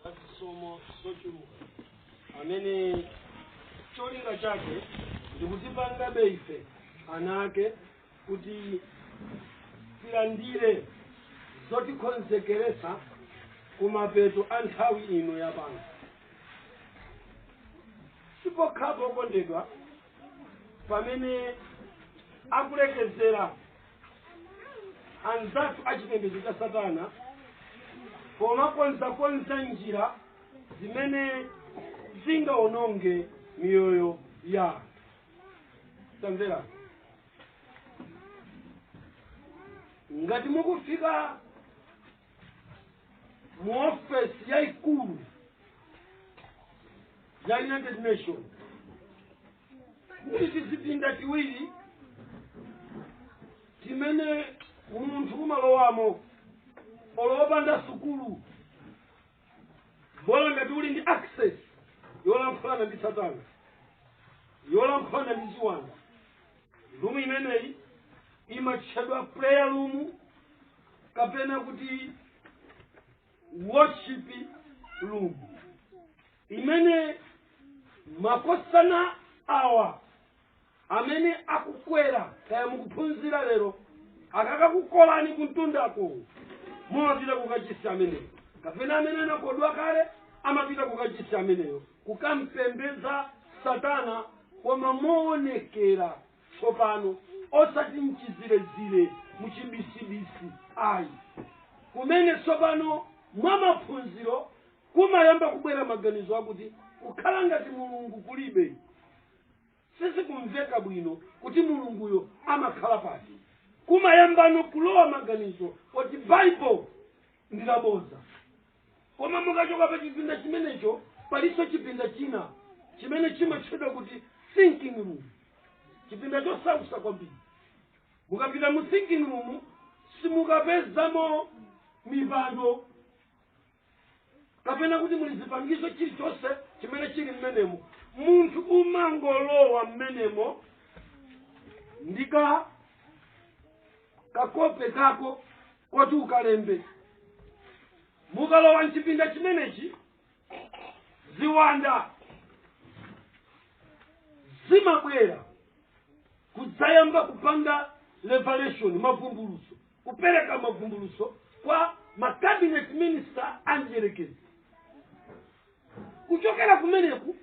zazisomo zochuluka amene cholinga chake ndikutipangabe ife ana ake kuti tilandire zotikonzekeretsa kumapeto a nthawi ino yapano sipokhapo okondedwa pamene akulekezera anzathu a chipembedzo cha satana pomakonzakonza njira zimene zingawononge miyoyo ya anthu tamvera ngati mukufika mu ofesi yayikulu ya united nations muli tizipinda tiwiri timene munthu umalowamo olopanda sukulu bola ngati uli ndi access yolankhulana ndi satana yolankhulana ndi ziwanda rumu imeneyi imatchedwa prayer room kapena kuti worship room imene makosana awa amene akukwera kaya mukuphunzira lero akakakukolani kuntundako mumapita kukachisi ameneyo kapena amene anakodwa kale amapita kukachisi ameneyo kukampembeza satana koma moonekera tsopano osati mchizirezire muchibisibisi ayi kumene tsopano mwa maphunziro Kumayamba kubwera maganizo akuti kukhala ngati Mulungu kulibe. Sizikumveka bwino kuti Mulunguyo amakhala pati. Kumayambano kulowa maganizo oti Bible ndi labodza. Koma mukachoka pa chipinda chimenecho palinso chipinda china chimene chimatchedwa kuti thinking room, chipinda chosausa kwambiri. Mukapita mu thinking room simukapezamo mipando kapena kuti muli zipangizo chilichonse chimene chili mmenemo munthu umangolowa mmenemo ndi kakope kako koti ukalembe mukalowa mchipinda chimenechi ziwanda zimabwera kudzayamba kupanga revelation mavumbulutso kupereka mavumbulutso kwa ma cabinet minister a mdierekezi kuchokera kumeneku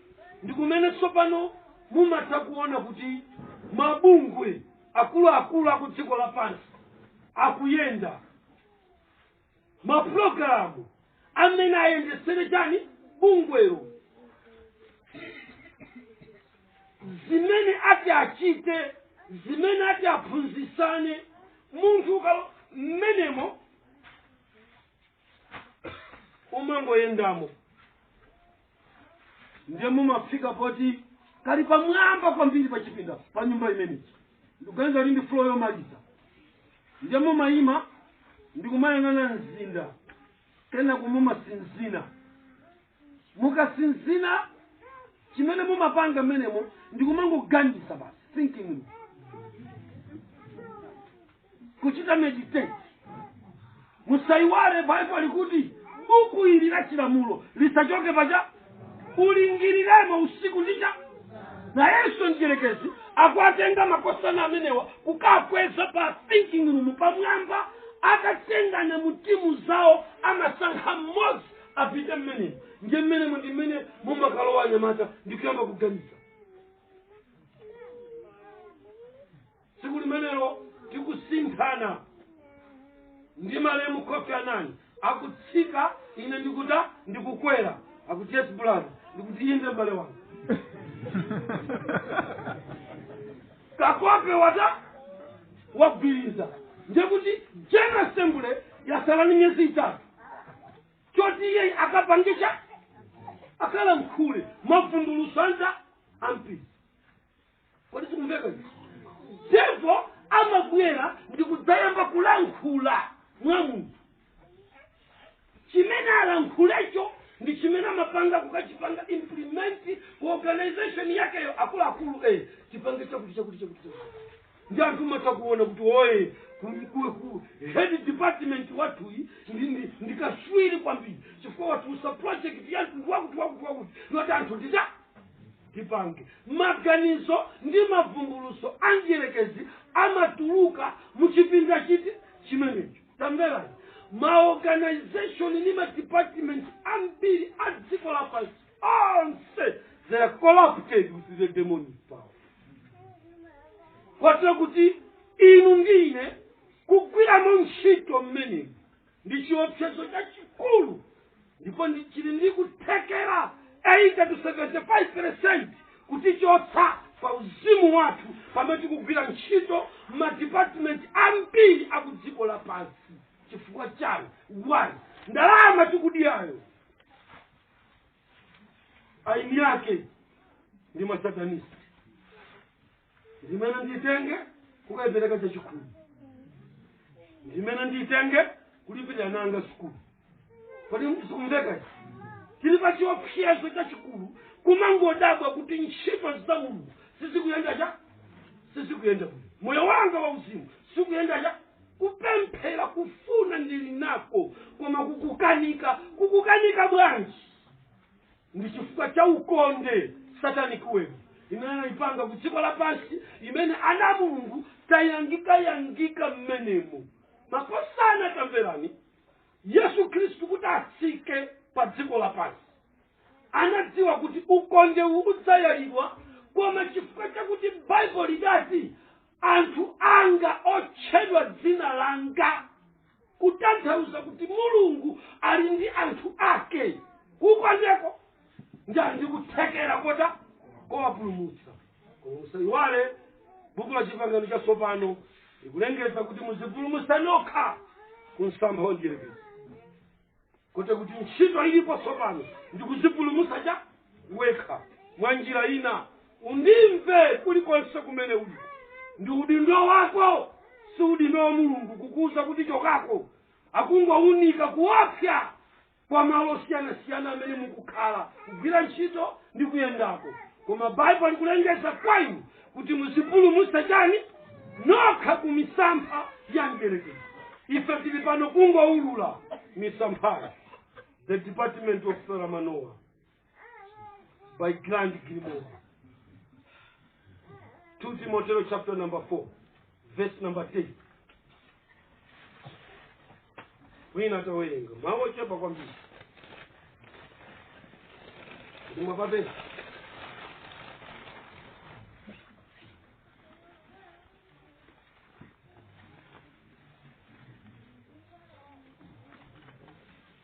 ndi kumene tsopano mumatha kuona kuti mabungwe akuluakulu aku dziko lapansi akuyenda maprogramu amene ayendetsere tani bungwelo zimene ati achite zimene ati aphunzitsane munthu ukalowa mmenemo umangoyendamo ndiye mumafika poti kali pamwamba kwambiri pa chipinda pa nyumba imeneyi ndikuganiza kuti ndi floor yomaliza ndiye mumayima ndikumayang'ana mzinda kenako mumatsinzina mukatsinzina chimene mumapanga mmenemo ndi kumangoganiza basi thinking room kuchita meditate musayiwale baibulo likuti buku ili la chilamulo lisachoke paja ulingiriremo usiku ndicha nayenso mdyerekezi akuwatenga makosana amenewa kukakweza pa thinking room pamwamba atatengana mu timu zawo amasankha mmodzi apite mmenemo ndiye mmenemo ndi mmene mumakalowa anyamata ndi kuyamba kuganiza tsiku limenelo tikusinthana ndi malemu kofi annan akutsika ine ndikuta ndikukwera akuti yes brother ndikuti inde mbale wanga kakope wata wagwiriza ndiye kuti general assembly yatsala ni miyezi itatu choti iye akapangisha akalankhule mavumbulutso anji ampiri kodi zikumveka izi? devil amabwera ndi kudzayamba kulankhula mwa munthu chimene alankhulecho ndi chimene amapanga kukachipanga implement ku organization yakeyo akuluakulu eh, chipange chakuti chakuti chakuti chakuti. ndi anthu mumatha kuona kuti oh head department wathuyi ndi, ndi, ndi kaswiri kwambiri chifukwa watulutsa project ya mtundu wakuti wakuti wakuti yoti anthu tita tipange maganizo ndi mavumbulutso a mdyerekezi amatuluka mu chipinda chiti chimenecho tamverani maorganization ndi madepartment ambiri a dziko lapansi onse they are corrupted with the demonic power kotero kuti inu ndi ine kugwiramo ntchito mmenemu ndi chiopsezo chachikulu ndipo ndi- chili ndi kuthekera 80 to 75 percent kutichotsa pa uzimu wathu pamene tikugwira ntchito madipatimenti ambiri aku dziko lapansi chifukwa chani one ndalama tikudiyayo eni ake ndi masatanisi ndimene ndiyitenge kukayipereka chachikhumi ndimene ndiyitenge kulipirira ana anga sukulu kodi sikumveka tili pa chiopsezo chachikulu kumangodabwa kuti ntchito za mulungu sizikuyenda chani sizikuyenda moyo wanga wa uzimu sukuyenda cha Kupemphera kufuna ndili nako koma kukukanika. Kukukanika bwanji? Ndi chifukwa cha ukonde, satanic web, imene anaipanga ku dziko lapansi imene ana a Mulungu tayangikayangika mmenemo. Makosana tamverani, Yesu Khristu kuti atsike pa dziko lapansi anadziwa kuti ukondewu udzayalidwa, koma chifukwa chakuti Baibulo lidati anthu anga otchedwa dzina langa kutanthauza kuti mulungu ali ndi anthu ake ku ukondeko ndi ali ndi kuthekera kota kowapulumutsa koma musayiwale buku la chipangano chatsopano likulengeza kuti muzipulumutse nokha ku msampha wa mdierekezi kotero kuti ntchito ilipo tsopano ndi kudzipulumutsa chani wekha mwa njira ina undimve kulikonse kumene uli ndi udindo wako si udindo wa mulungu kukuwuza kuti chokako akungowunika kuopsa kwa malo osiyanasiyana amene mukukhala kugwira ntchito ndi kuyendako koma baibulo likulengeza kwa inu kuti muzipulumutse chani nokha ku misampha ya mdierekezi ife tili pano kungoulula misamphayo the department of saramanoa by grand grimoire 2 timoteo chapter number 4 Verse number 10. Wina atawerenga. Mawu ochepa kwambiri. Ndi mwapapeza.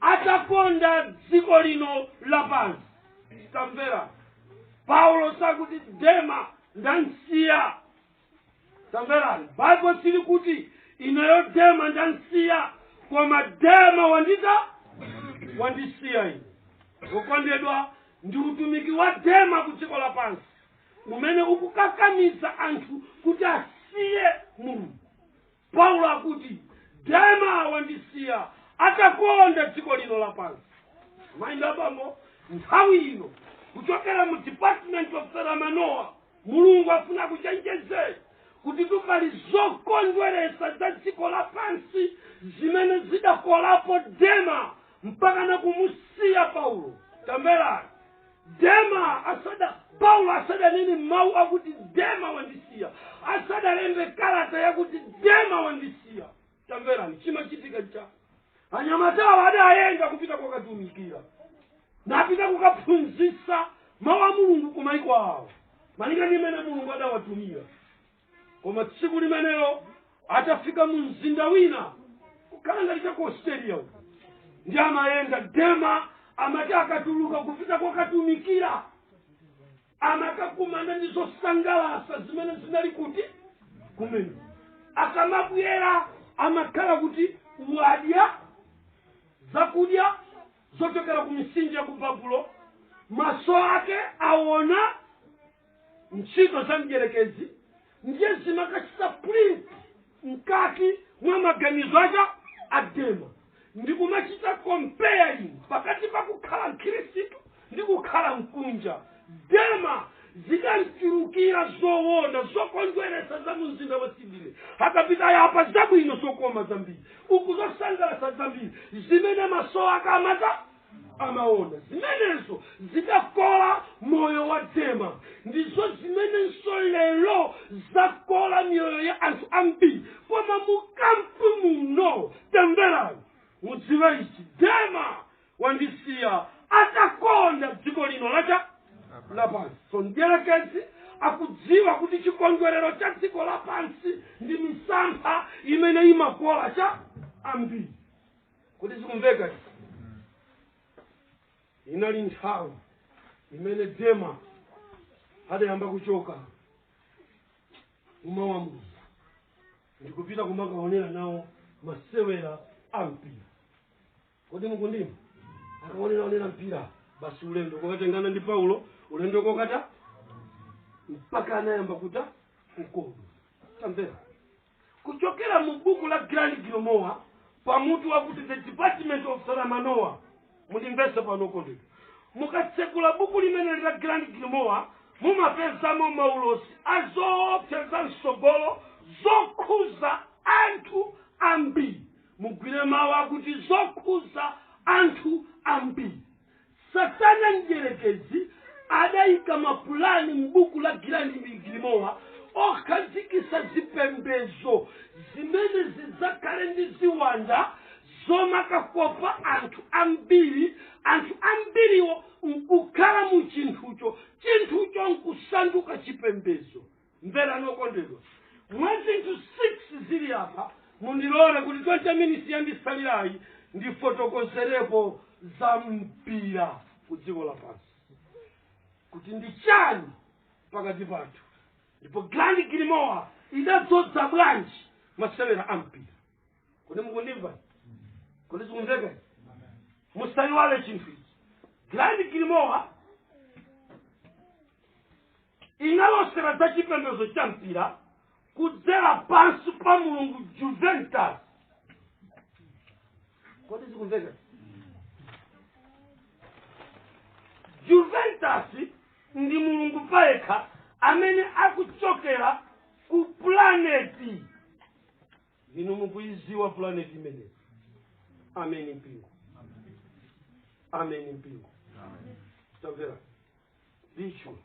atakonda dziko lino lapansi tamvera paulo sakuti dema ndamsiya tamverani baibo sili kuti ineyo dema ndamsiya koma dema wandita wandisiya ine wokondedwa ndi utumiki wa dema ku dziko lapansi umene ukukakamiza anthu kuti asiye mulungu Paulo akuti, Dema wandisiya atakonda dziko lino lapansi. Amayi ndi abambo, nthawi ino, kuchokera mu Department of Selamanoa, Mulungu afuna kuchenjezeni kuti tukali zokondweresa za dziko lapansi zimene zidakolapo Dema mpaka nakumusiya Paulo. Tamverani. dema asada paulo asadanene mawu akuti dema wandisiya asadalembe kalata yakuti dema wandisiya tamverani chimachitika cha anyamatawa adayenda kupita kokatumikira napita kukaphunzitsa mawu a mulungu kumaiko awo malinga ndi mmene mulungu adawatumira koma tsiku limenelo atafika mu mzinda wina kukhala ngati cha ku australia uko ndi amayenda dema amati akatuluka kupita kokatumikira amakakumana ndi zosangalatsa zimene zinali kuti kumene akamabwera amakhala kuti wadya zakudya zochokera ku misinja ya ku babulo maso ake aona ntchito za mdyerekezi ndiye zimakachita print mkati mwa maganizo aja a dema ndi kumachita comparing pakati pa kukhala mkhristu ndi kukhala mkunja dema zikamchulukira zoona zokondweretsa za mumzinda wa sydney akapita yapa zabwino zokoma zambiri uku zosangalatsa zambiri zimene maso ake amata amaona zimenezo zidakola moyo wa dema ndizo zimenenso lero zakola miyoyo ya anthu ambiri koma mukampu muno tamverani mudziwe ichi dema wandisiya atakonda dziko lino la cha lapansi so mdierekezi akudziwa kuti chikondwerero cha dziko lapansi ndi misampha imene imakola cha ambiri kodi zikumveka izi? inali nthawi imene dema adayamba kuchoka kumawu a mulungu ndikupita kumakaonera nawo masewera a mpira kodi mukundimva akaonera onera mpira basi ulendo kokatengana ndi paulo ulendo kokata mpaka anayamba kuta mkono tamvera Kuchokera mu buku la Grand Grimoire, pa mutu wakuti The Department of Saramanoa. Mundimvetse pano, okondedwa. Mukatsegula buku limeneli la Grand Grimoire, mumapezamo maulosi a zoopsa za mtsogolo zokhuza anthu ambiri. Mugwire mawu akuti zokhuza anthu ambiri. Satana mdyerekezi adaika mapulani m'buku la Grand Grimoire okhazikitsa zipembezo zimene zidzakhale ndi ziwanda zomakakopa anthu ambiri, anthu ambiriwo nkukhala mu chinthucho, chinthucho nkusanduka chipembezo. mverani okondedwa mwa zinthu 6 zili apa mundilole kuti 20 minutes yandisalirayi ndifotokozerepo za mpira ku dziko lapansi kuti ndi chani pakati pathu ndipo grand grimoire idadzodza bwanji masewera a mpira kodi mukundimva kodi zikumveka musayiwale chinthu ichi grand grimoire inalosera za chipembedzo cha mpira kudzera pansi pa mulungu juventus kodi zikumveka juventus ndi mulungu payekha amene akuchokera ku planet inu mukuiziwa planet imeneyi ameni mpingo ameni mpingo tamvera icho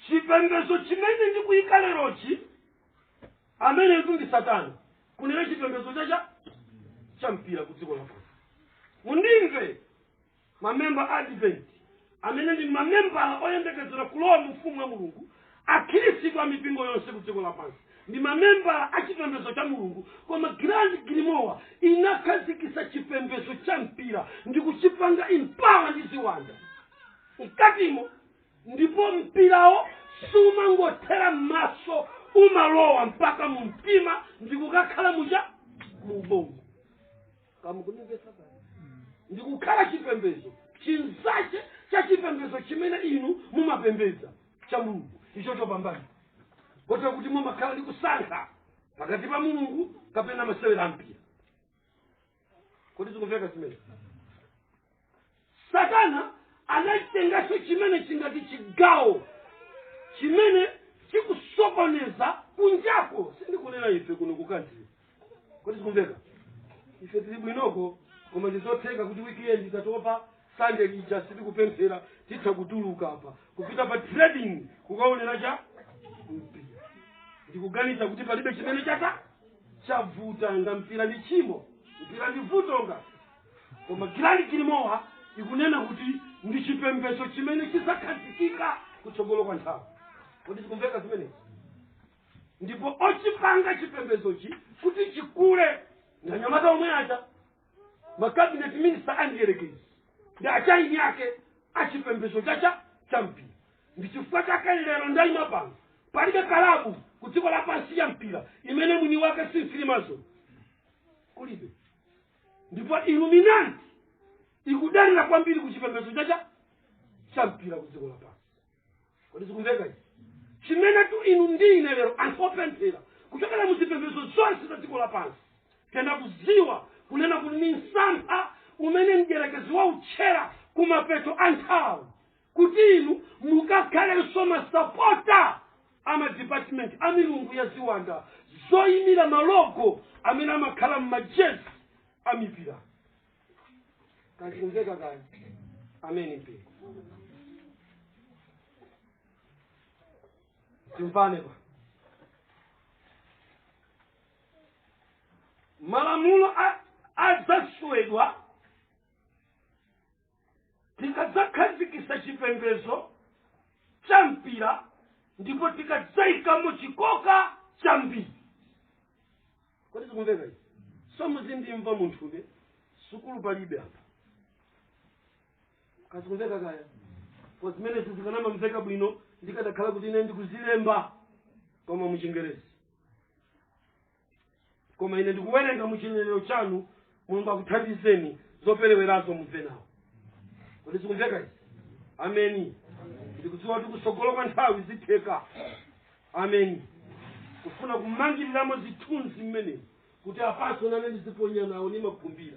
chipembedzo chimene ndikuyika lerochi amenetu ndi satana kunena chipembedzo chache cha mpira ku dziko lapansi mundimve mamemba advent amene ndi mamemba oyembekezera kulowa mu ufumu wa mulungu Akhirisitu a mipingo yonse ku dziko lapansi ndi mamemba a chipembezo cha Mulungu, koma Grand Grimoire inakhazikisa chipembezo cha mpira ndi kuchipanga empower ndi ziwanda mkatimo, ndipo mpirawo sumangothera mmaso, umalowa mpaka mu mtima ndikukakhala muja mu ubongo. kamukundimvetsa pano ndikukhala chipembedzo chinzache cha chipembedzo chimene inu mumapembedza cha mulungu icho chopambana kotero kuti mumakhala ndi kusankha pakati pa mulungu kapena masewera ampira kodi zikumveka zimene satana anaitenganso chimene chingati chigawo chimene chikusokoneza kunjako sindikunena ife kuno kukantiri kodi zikumveka ife tili bwinoko koma ndizotheka kuti wikiendi tatopa sande lija sitikupemphera titha kutuluka apa kupita pa trading kukaonera cha mpira ndikuganiza kuti palibe chimene cha- chavuta nga mpira ndi chimo mpira ndi vuto nga koma gilandi gilimowa ikunena kuti ndi chipembedzo chimene chidzakhazikika kutsogolo kwa nthawi kodi zikumveka zimenezi ndipo ochipanga chipembedzochi kuti chikule ndi anyamata omwe aja makabinet minista andiyerekezi ndi achieni ake achipembedzo cha mpira ndi chifukwa chake lero ndayima pano palibe kalabu ku dziko lapansi ya mpira imene mwini wake si freemason kulibe ndipo illuminati ikudalira kwambiri ku chipembedzo cha- cha mpira ku dziko lapansi kodi zikumveka izi chimenetu inu ndi ine lero anthu opemphera kuchokera mu zipembedzo zonse za dziko lapansi tiyenera kudziwa kunena kuti ni msampha umene mdyerekezi wautchera ku mapeto a nthawi kuti inu mukakhalenso masapota a madipatimenti a milungu ya ziwanda zoyimira malogo amene amakhala m'majezi a mipira kazikumveka kaya ameni pe timvane apa malamulo adzaswedwa tikadzakhazikisa chipembezo cha mpira ndipo tikadzaikamo chikoka chambiri kodi zikumveka izi so muzindimva munthuke sukulu palibe apa kazikumveka kaya pa zimenezi zikanamamveka bwino ndikadakhala kuti ine ndikuzilemba koma muchingerezi koma ine ndikuwerenga mu chinenero chanu mulungu akuthandizeni zoperewerazo mumve nawo kodi zikumveka izi ameni ndikudziwa kuti kutsogolo kwa nthawi zitheka ameni kufuna kumangiriramo zithunzi mmenezi kuti apanso nane ndiziponya nawo ndimakhumbira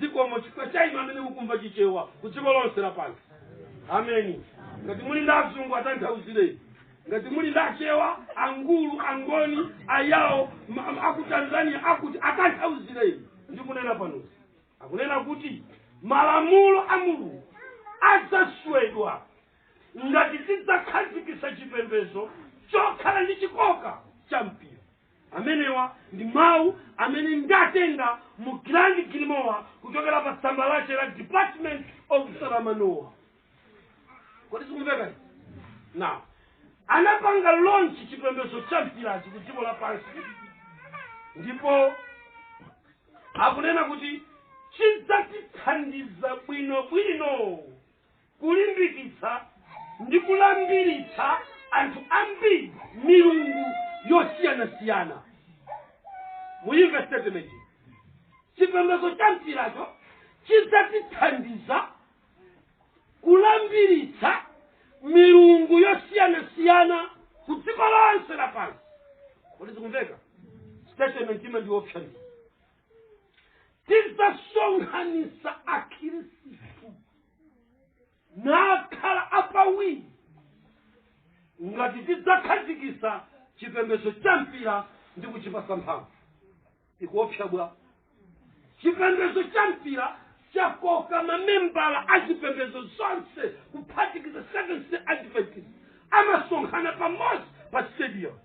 zikomo chifukwa cha inu amene mukumva chichewa ku dziko lonse lapansi ameni ngati muli ndi azungu atanthauzireni ngati muli ndi achewa angulu angoni ayawo aku tanzania akuti atanthauzireni ndikunena panozi akunena kuti malamulo a mulungu adzaswedwa ngati tidzakhazikitsa chipembedzo chokhala ndi chikoka cha mpira amenewa ndi mawu amene ndatenga mu Grand Grimoire kuchokera pa tsamba lake la department of salamanoa kodi zikumveka now anapanga launch chipembedzo cha mpirachi ku dziko lapansi ndipo akunena kuti chidzatithandiza bwino bwino kulimbikitsa ndi kulambiritsa anthu ambiri milungu yosiyanasiyana muyimve statement chipembedzo cha mpiracho chidzatithandiza kulambiritsa milungu yosiyanasiyana ku dziko lonse lapansi kodi zikumveka statement imene ndi yoopsa tidzasonkhanitsa akhirisitu nakhala apawiri ngati tidzakhazikitsa chipembedzo cha mpira ndi kuchipatsa mphamvu ikuopsa bwa chipembedzo cha mpira chakoka mamembala a zipembedzo zonse kuphatikiza Seventh-day Adventist amasonkhana pamodzi pa stadium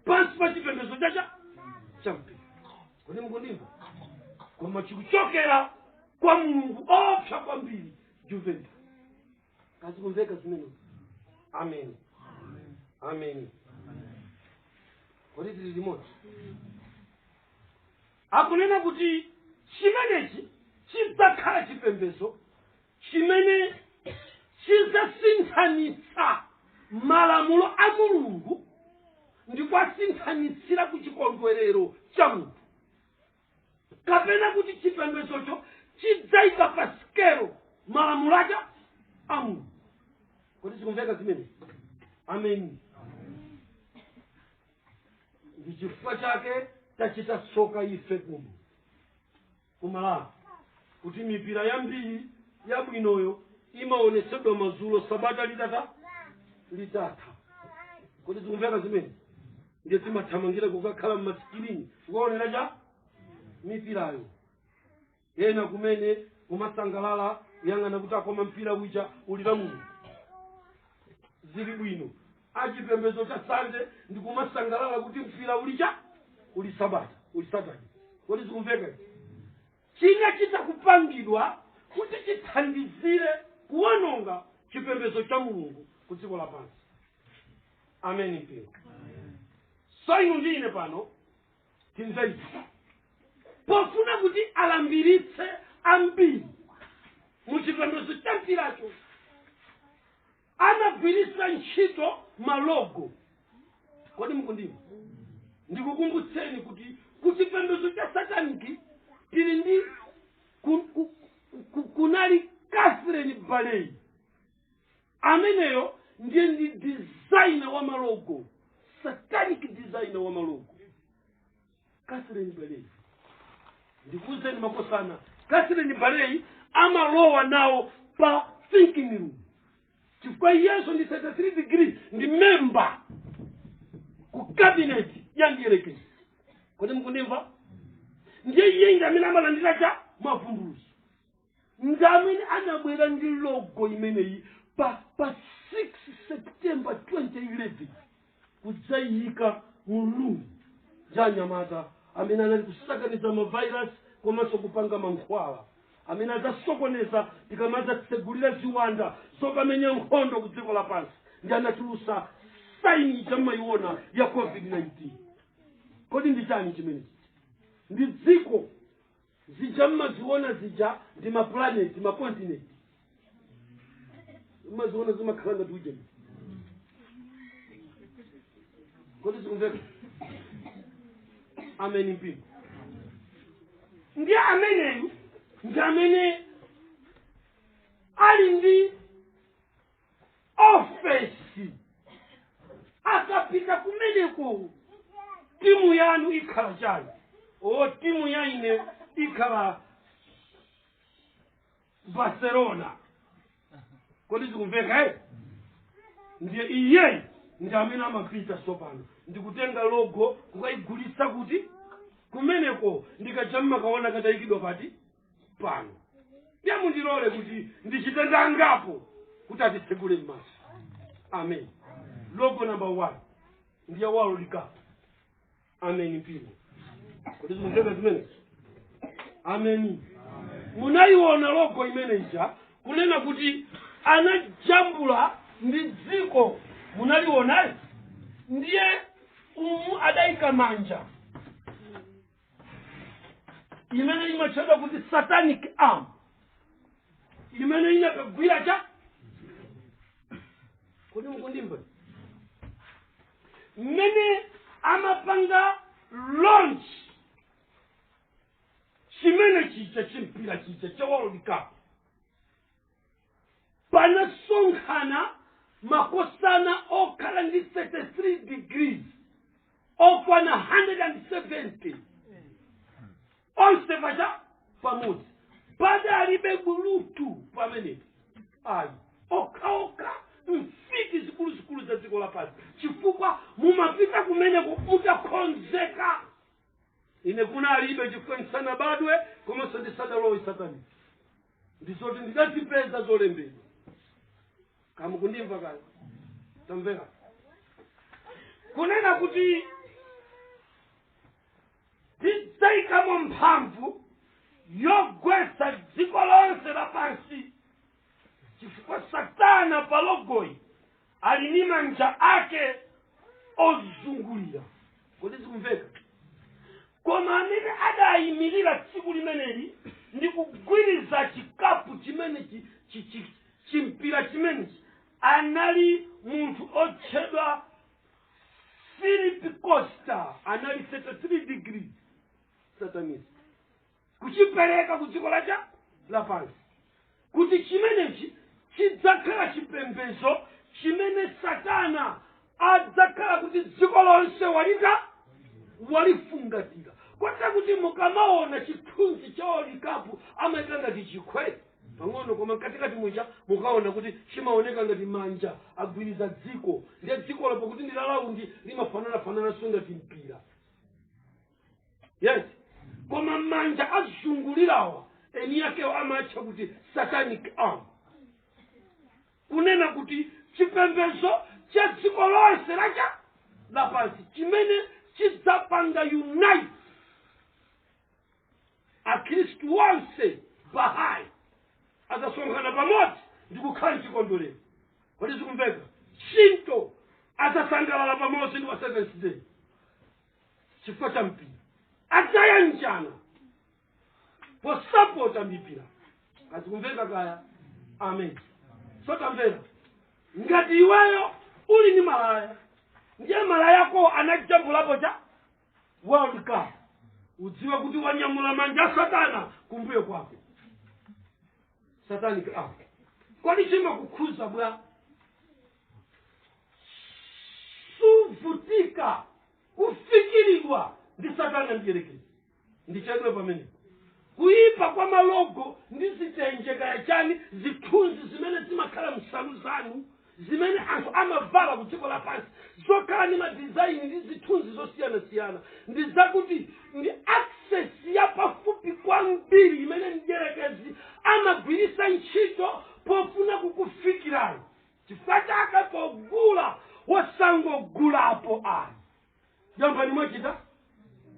pansi pa chipembedzo chacha cha mpira kodi mukundimva koma chikuchokera kwa mulungu woopsa kwambiri juventa kodi zikumveka zimenezo amen amen kodi tili limodzi akunena kuti chimenechi chidzakhala chipembedzo chimene chidzasinthanitsa malamulo a mulungu ndi kuwasinthanitsira ku chikondwerero cha munthu kapena kuti chipembedzocho chidzayika pa sikelo malamulo aja a mulungu kodi zikumveka zimene ameni ndi chifukwa chake tachita tsoka ife kuno ku Malawi kuti mipira yambiri yabwinoyo imaonetsedwa madzulo sabata litatha litatha kodi zikumveka zimene ndiye timathamangira kukakhala mmasikirini kukaonera mipirayo ena kumene kumasangalala kuyang'ana kuti aa koma mpira uja uli lamulungu zili bwino a chipembedzo cha sande ndi kumasangalala kuti mpira uja uli sabata uli satani kodi zikumveka izi? chinachita kupangidwa kuti chithandizire kuwononga chipembedzo cha mulungu ku dziko lapansi ameni mpingo so inu ndi ine pano timveni pofuna kuti alambiritse ambiri mu chipembedzo cha mpiracho anagwiritsa ntchito malogo kodi mukundimva ndikukumbutseni kuti ku chipembedzo cha sataniki tili ndi kunali catherine baley ameneyo ndiye ndi designer wa malogo satanic designer wa malogo catherine baley ndikuuzeni makosana catherine baley amalowa nawo pa thinking room chifukwa iyenso ndi 33 degree ndi memba ku cabinet ya mdyerekezi kodi mukundimva ndiye iye ndi amene amalandira cha mavumbulutso ndi amene anabwera ndi logo imeneyi pa 6 september 2011 kudzayiyika m'gulu la anyamata amene anali kusakaniza mavairasi komanso kupanga mankhwala amene adzasokoneza tikamadzatsegulira ziwanda zokamenya nkhondo ku dziko lapansi ndiye anatulutsa saini chomwe mumayiona ya covid-19 kodi ndi chani chimenechi ndi dziko zija mmaziona zija ndi maplaneti makontinenti mmaziona zimakhala ngati ujeni kodi zikumveka amen mpingo ndi ameneyu ndi amene ali ndi ofesi akapita kumeneko timu yanu ikhala chani o timu ya ine ikhala barcelona kodi zikumveka eh? ndiye iyeyi ndi amene amapita tsopano ndikutenga logo kukayigulitsa kuti kumeneko ndi kaja mmakaona katayikidwa pati pano ndiye mundilole kuti ndichite nda angapo kuti atitsegule m'maso amen logo number one ndiye world cup amen mpingo kodi zikumveka zimenezo amen munayiona logo imene ija kunena kuti anajambula ndi dziko munaliona eti ndiye umu adayika manja imene imatchedwa kuti satanic arm imene inakagwira cha kodi mukundimva mmene amapanga launch chimene chija chimpira chija cha world cup panasonkhana makosana okhala ndi 33 degrees okwana 170 onse anabwera pamodzi padalibe bulutu pamenepo ayi okhaokha mfiti zikuluzikulu za dziko lapansi chifukwa mumapita kumeneko mutakonzeka ine kunalibe chifukwa ndisanabadwe komanso ndisadalowe sataniki ndizoti ndidazipeza zolembedwa kaya mukundimva kodi tamvera kunena kuti tidzayikamo mphamvu yogwetsa dziko lonse lapansi chifukwa satana pa logoyo ali ndi manja ake ozungulira kodi zikumveka koma amene adayimirira tsiku limeneli ndi kugwiriza chikapu chimenechi chi- chi- chimpira chimenechi anali munthu otchedwa philip costa anali 33 degree satanist kuchipereka ku dziko lathu lapansi kuti chimenechi chidzakhala chipembedzo chimene satana adzakhala kuti dziko lonse walita walifungatira kotera kuti mukamaona chithunzi cha world cup amaika ngati chikhwere pang'ono koma mkatikati muja mukaona kuti chimaoneka ngati manja agwiriza dziko ndiye dzikolo pakuti ndi lalaundi limafananafanananso ngati mpira yes koma manja azungulirawa eni yakewo amatcha kuti satanic arms kunena kuti chipembedzo cha dziko lonse lacha lapansi chimene chidzapanga unite akhristu onse bahai azasonkhana pamodzi ndi kukhala mchikondwerero kodi zikumveka shinto azasangalala pamodzi ndi wa seventh day chifukwa cha mpira adzayanjana posapota mipira kodi zikumveka kaya amen so tamvera ngati iweyo uli ndi malaya ndiye malaya ako anajambulapo cha world cup udziwe kuti wanyamula manja a satana kumbuyo kwako satanic arm kodi chimakukhuza bwa suvutika kufikiridwa ndi satana mdyerekezi ndichedwe pamene kuyipa kwa malogo ndi zitenje kaya chani zithunzi zimene zimakhala m'nsalu zanu zimene anthu amavala ku dziko lapansi zokhala ndi madizayini ndi zithunzi zosiyanasiyana ndi zakuti ndi access yapafupi kwambiri imene mdyerekezi amagwiritsa ntchito pofuna kukufikirani chifukwa chake pogula osangogulapo ayi ntchampani mwachita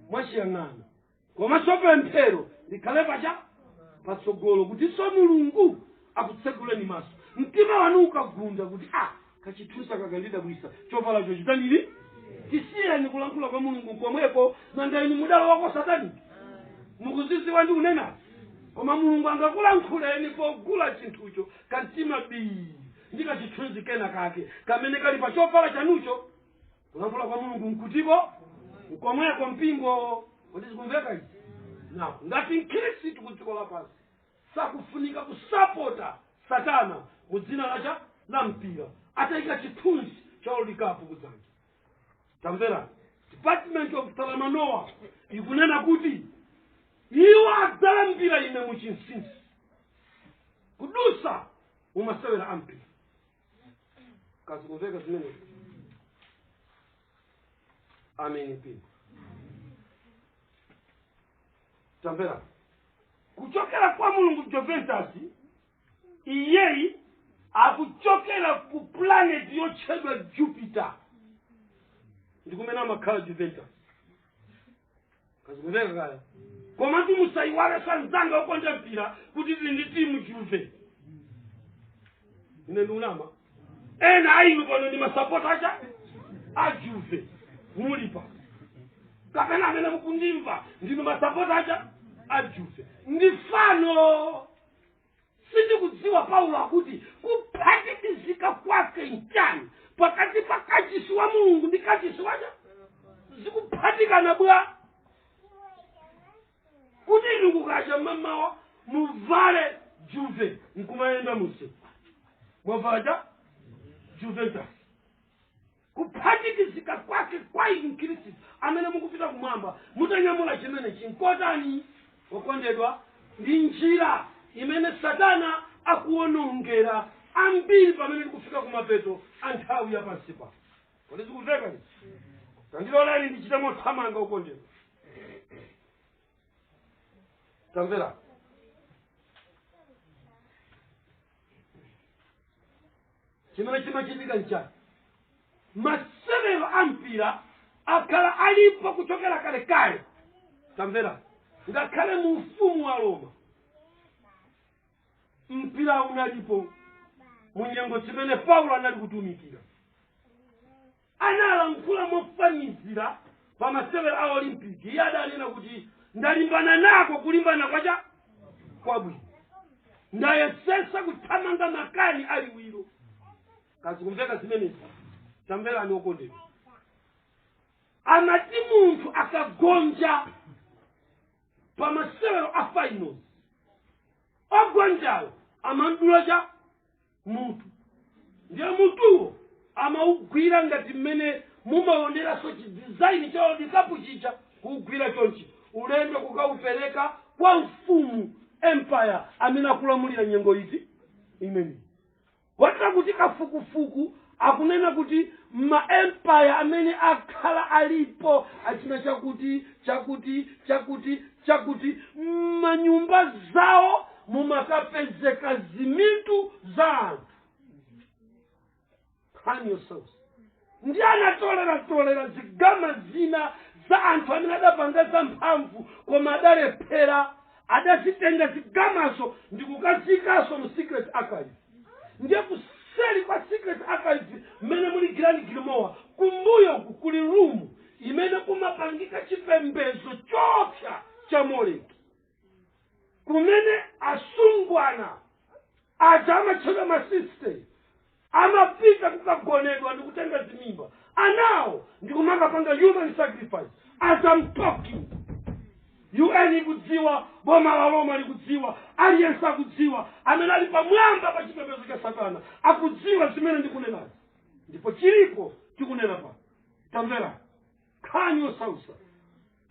mwachiyang'ana komanso pemphero likhale pacha patsogolo kutinso mulungu akutseguleni maso mtima wanu ukagunda kuti a kachithunzi kakandidabwisa chovala choncho tandili tisiyeni kulankhula kwa mulungu komweko nanga inu mudala wako satani mukudzidziwa ndi kunena koma mulungu angakulankhuleni pogula chinthucho kamtima bii ndi kachithunzi kena kake kamene kali pa chovala chanucho kulankhula kwa mulungu mkutiko nkomweko mpingo kodi zikumveka izi na ngati mkhristu ku dziko lapansi sakufunika kusapota satana mu dzina lacha la mpira atayika chithunzi cha World Cup kudzanja tamvera department of salamanoa ikunena kuti iwo adzalambira ine mu chinsinsi kudutsa mumasewera ampira kazikumveka zimenezi ameni mpira tamvera kuchokera kwa mulungu Juventus Iyeyi akuchokera ku pulaneti yotchedwa Jupiter, ndi kumene amakhala Juventus kazikumveka kaya komatu musayiwale sanzanga okonda mpira kuti tili ndi timu Juve ine ndikunama ena ainu pano ndi masapota acha a Juve mulipa kapena amene mukundimva ndinu masapota acha a Juve ndi fano sindikudziwa paulo akuti kuphatikizika kwake nchani pakati pa kachisi wa mulungu ndi kachisi wacha zikuphatikana bwa kuti inu kukacha mamawa muvale juve nkumayenda musi mwavala juventus Kuphatikizika kwake kwa inu, Mkhristu, amene mukupita Kumwamba mutanyamula chimenechi, nkotani wokondedwa? Ndi njira imene Satana akuwonongera ambiri pamene tikufika kumapeto a nthawi ya pansi pano. Kodi zikumveka izi? Tandiloleni ndichite mothamanga, wokondedwa. Tamvera. chimene chimachitika nchani masewero a mpira akhala alipo kuchokera kalekale tamvera ngakhale mu ufumu wa roma mpira unalipo mu nyengo chimene paulo anali kutumikira Analankhula mofanizira pa masewero a Olympic. Iye adanena kuti ndalimbana nako kulimbana kwacha kwabwino, ndayesesa kuthamanga makani a liwiro. Kazikumveka zimenezi, tamverani okondedwa. Amati munthu akagonja pa masewero a finals, ogonjayo amamdula cha mutu ndiye mutuwo amaugwira ngati mmene mumaoneranso chidizaini cha world cup chija kuugwira chonchi ulendo kukaupereka kwa mfumu empire amene akulamulira nyengo imeneyi kotera kuti kafukufuku akunena kuti ma empire amene akhala alipo achina chakuti chakuti chakuti chakuti m'manyumba zawo mumakapezeka zimitu za anthu nkhani yosausa ndi anatoleratolera zigama zina za anthu amene adapanga zamphamvu koma adalephera adazitenga zigamazo ndikukaziikanso mu secret archives ndiye kuseli kwa secret archives mmene muli grand grimoire kumbuyo uku kuli room imene kumapangika chipembedzo choopsa cha moleki kumene asungwana aja amatchedwa masiste amapita kukagonedwa ndikutenga zimimba anawo ndikumakapanga human sacrifice as I'm talking un ikudziwa boma la roma likudziwa aliyense akudziwa amene ali pamwamba pa chipembedzo cha satana akudziwa zimene ndikunenazi ndipo chilipo tikunenapa tamvera nkhani yosausa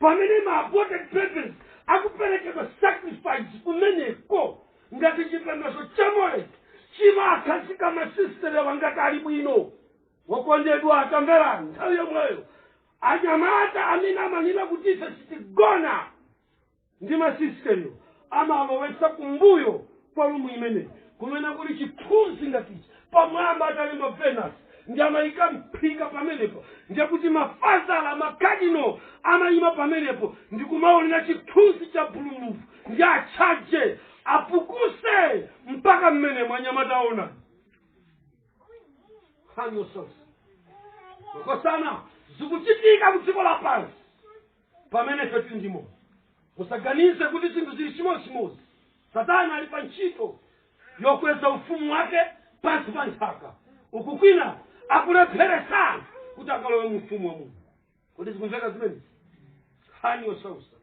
pamene ma aborted babies akuperekedwa sacrifice kumeneko ngati chipembedzo cha moleki chimakazika masisitere wangati ali bwino wokondedwa tamvera nthawi yomweyo anyamata amene amanena kuti ife sitigona ndi masisiteriwo amawalowetsa kumbuyo kwa rumu imeneyi kumene kuli chithunzi ngati ichi pamwamba atalemba venus ndi amayika mphika pamenepo ndiye kuti mafadha ala makadino amayima pamenepo ndi kumaonera chithunzi cha bulumuvi ndi atchaje apukuse mpaka mmene mwanyamata aona nkhani yosausa makosana zikuchitika ku dziko lapansi pamene ife tiri ndi moyo. Musaganize kuti zinthu zili chimodzimodzi. Satana ali pa ntchito yokweza ufumu wake pansi pa nthaka, uku kwina akulepheretsa anthu kuti akalowe mu ufumu wa Mulungu. Kodi zikumveka zimenezi? Nkhani yosautsa.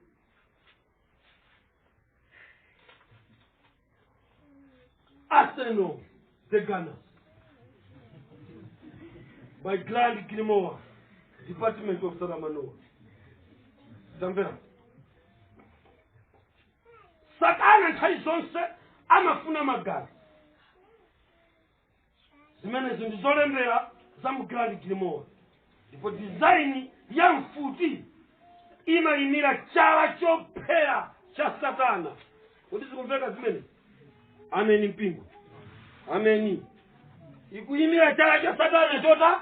Arsenal, the Gunners. By Grand Grimoire, Department of Saramanoa. Tamverani. Satana nthawi zonse amafuna magazi. zimenezi ndi zolembera za mu grand grimoire ndipo dizaini ya mfuti imayimira chala chophera cha satana kodi zikumveka zimenezi ameni mpingo ameni ikuyimira chala cha satana chota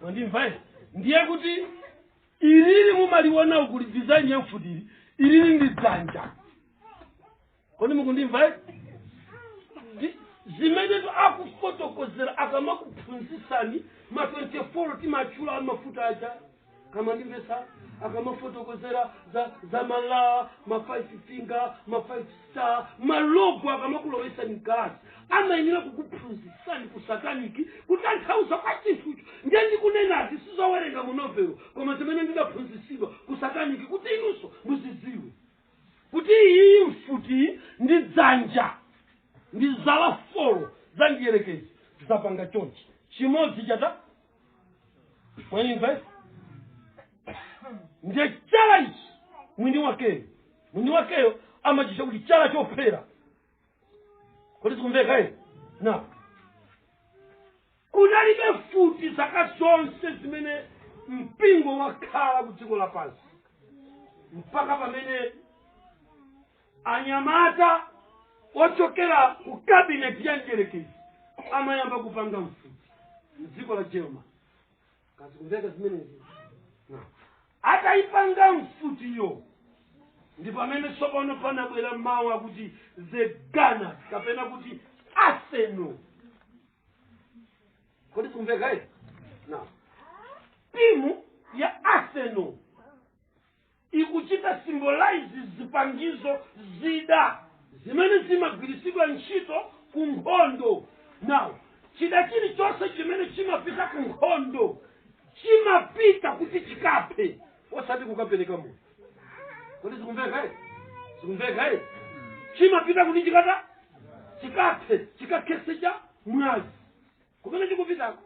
mwandimva ine ndiye kuti ilili mumaliona ukuli design ya mfutiyi ilili ndi dzanja kodi mukundimva ine Ndi- zimenetu akufotokozera akamakuphunzitsani ma 24 timatchula mafuta aja kaya mandimvetsa akamafotokozera za za zala ma 5 finger ma 5 star malogo akamakulowetsani mkalasi amayenera kukuphunzitsani ku sataniki kutanthauza kwa chinthucho ndiye ndikunenazi sizowerenga mu novelo koma zimene ndidaphunzitsidwa ku sataniki kuti inunso muzidziwe kuti iyi mfuti ndi dzanja ndi zala folo za mdierekezi zapanga chonchi chimodzi chata Mwandimvetsa, ndiye chala ichi mwini wakeyo mwini wakeyo amachitcha kuti chala chophera kodi zikumveka ine na kunalibe mfuti zaka zonse zimene mpingo wakhala ku dziko lapansi mpaka pamene anyamata ochokera ku kabineti ya mdierekezi amayamba kupanga mfuti mdziko la germany kaya zikumveka zimenezi No. atayipanga mfutiyo ndi pamene tsopano panabwera mawu akuti the gunners kapena kuti arsenal kodi zikumveka eti na timu ya arsenal ikuchita symbolize zipangizo zida zimene zimagwiritsidwa ntchito ku nkhondo now chida chilichonse chimene chimapita ku nkhondo chimapita kuti chikaphe osati kukapereka moyo kodi zikumveka eh? zikumveka eh? chimapita kuti chikata chikaphe chikakhetse cha mwazi kumene chikupitako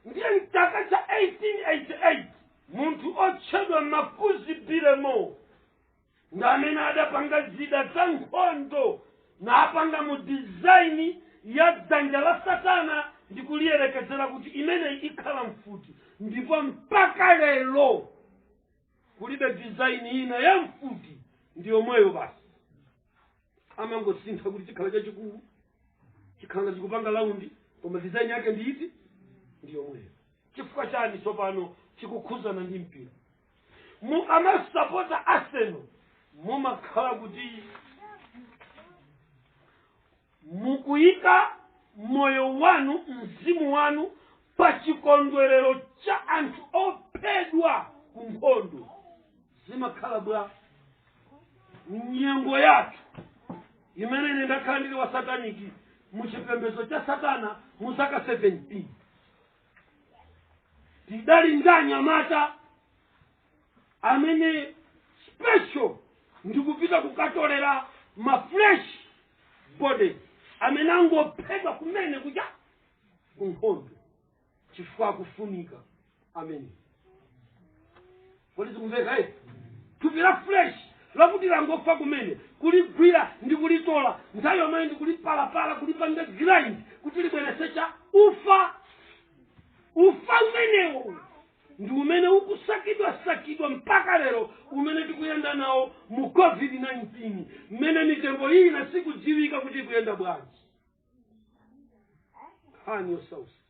ndiye mchaka cha 1888 munthu otchedwa makuzi bilemo ndi amene adapanga zida za nkhondo napanga mu dizaini ya dzanja la satana ndi kuliyerekezera kuti imeneyi ikhala mfuti ndipo mpaka lero kulibe dizaini ina ya mfuti ndi yomweyo basi amangosintha kuti chikhala chachikulu chikhala ngati chikupanga laundi koma design yake ndi iti ndi yomweyo chifukwa chani tsopano chikukhuzana ndi mpira mukamasapota arsenal mumakhala kuti Mukuyika moyo wanu, mzimu wanu, pa chikondwerero cha anthu ophedwa ku nkhondo. Zimakhala pa nyengo yathu imene ine ndakhala ndili wa sataniki mu chipembedzo cha satana mu zaka 17 tidali ndi anyamata amene special ndikupita kukatolera ma fresh body amene angophedwa kumene kuja kunkhondo chifukwa akufunika amen kodi zikumveka eti? thupi la fresh lakuti langofa kumene kuligwira ndi kulitola nthawi yomweyo ndi kulipalapala kulipanga grind kuti libweretse cha ufa ufa umenewo ndi umene ukusakidwa sakidwa mpaka lero umene tikuyenda nawo mu covid-19 mmene mitembo ina sikudziwika kuti ikuyenda bwanji nkhani yosausa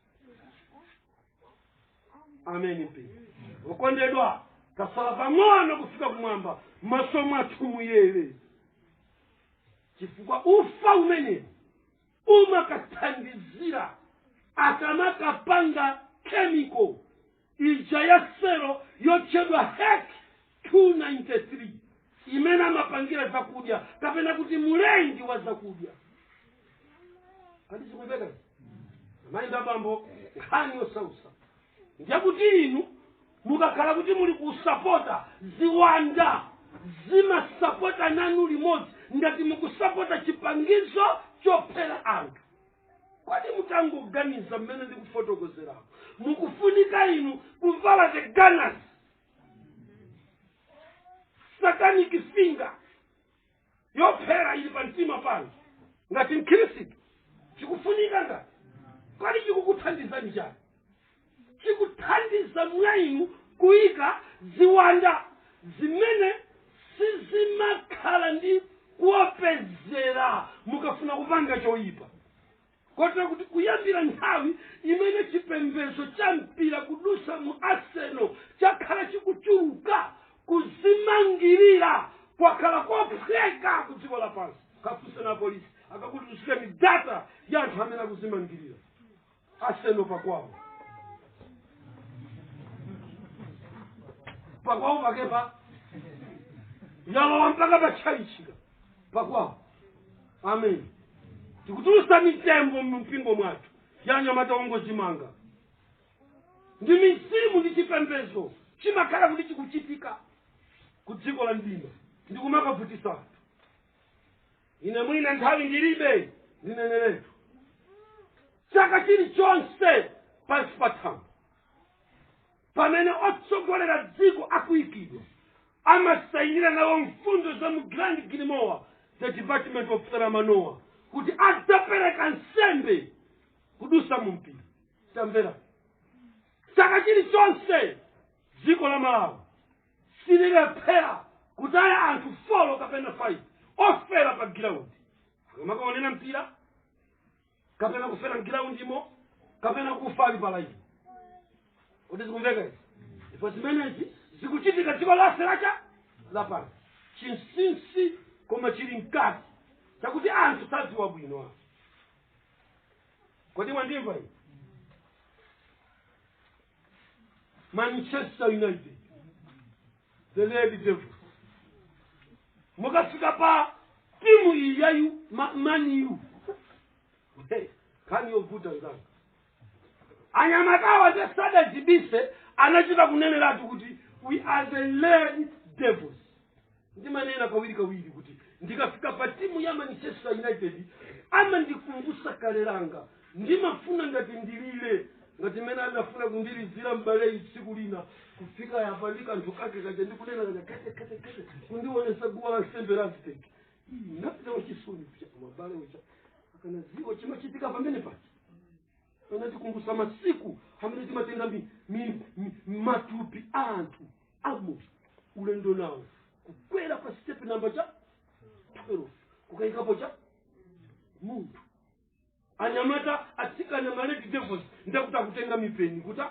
ameni mpingo okondedwa tatsala pang'ono kufika kumwamba maso mwathu muyere chifukwa ufa umene umakathandizira akamakapanga chemical ija ya selo yotchedwa hek 293 imene amapangira zakudya kapena kuti mulengi wa zakudya kodi zikumveka amayi ndi abambo nkhani yosausa ndiyakuti inu Mukakhala kuti muli kusapota, ziwanda zimasapota nanu limodzi ngati mukusapota chipangizo chophera anthu. Kodi mutangoganiza mmene ndikufotokozerapo, mukufunika inu kuvala the gunners satanic finger yophera ili pa mtima panu ngati mkhristu chikufunika ngati kodi chikukuthandiza nchani chikuthandiza mwa inu kuyika ziwanda zimene sizimakhala ndi kuopsezera mukafuna kupanga choyipa kotero kuti kuyambira nthawi imene chipembedzo cha mpira kudusa mu arsenal chakhala chikutchuka kuzimangirira kwakhala kophweka ku dziko lapansi kafunseni apolisi akakutulutsireni data ya anthu amene akuzimangirira arsenal pakwawo pakwawo pakepa yalowa mpaka patchalichika pakwawo amen tikutulusa mitembo mu mpingo mwathu ya anyamata ongozimanga ndi mizimu ndi chipembedzo chimakhala kuti chikuchitika ku dziko la mdima ndi kumakavutisa anthu ine mwina nthawi ndilibe ndineneretu chaka chilichonse pansi pa thambo pamene otsogolera dziko akuikidwa amasayinira nawo mfundo za mu grand grimoire the department of saramanoa kuti adzapereka nsembe kudusa mu mpira tamvera chaka chilichonse dziko la malawi sililephera kutaya anthu folo kapena faivi ofera pa giraundi akamakaonera mpira kapena kufera mgiraundimo kapena kufa ali palaivi kodi zikumveka izi ndipo zimenezi zikuchitika dziko lonse la cha lapansi chinsinsi koma chili mkati chakuti anthu sadziwa bwino anthu kodi mwandimva iyi manchester united the red devils mukafika pa timu iyi yayu ma- maniyu Hey, nkhani yovuta nzanga anyamatawa nde sadazibise anachita kuneneratu kuti we are the red devils ndimanena kawirikawiri kuti ndikafika pa timu ya manchester united amandikumbusa kale langa ndimafuna ngati ndilire ngati mmene adafuna kundilizira m'baleyi tsiku lina kufika apa ndi kanthu kake kaja ndikunena kaja kete kete kete kundionesa guwa la nsembe la aztec napita wachisoni kucha mabale ucha akanaziwa chimachitika pamene paja anatikumbutsa masiku amene timatenga mi- mi- mi- matupi a anthu amo ulendo nawo kukwera pa sitepe namba cha 12 kukayikapo cha munthu anyamata atsikana ma red devils ndakuti akutenga mipeni kuta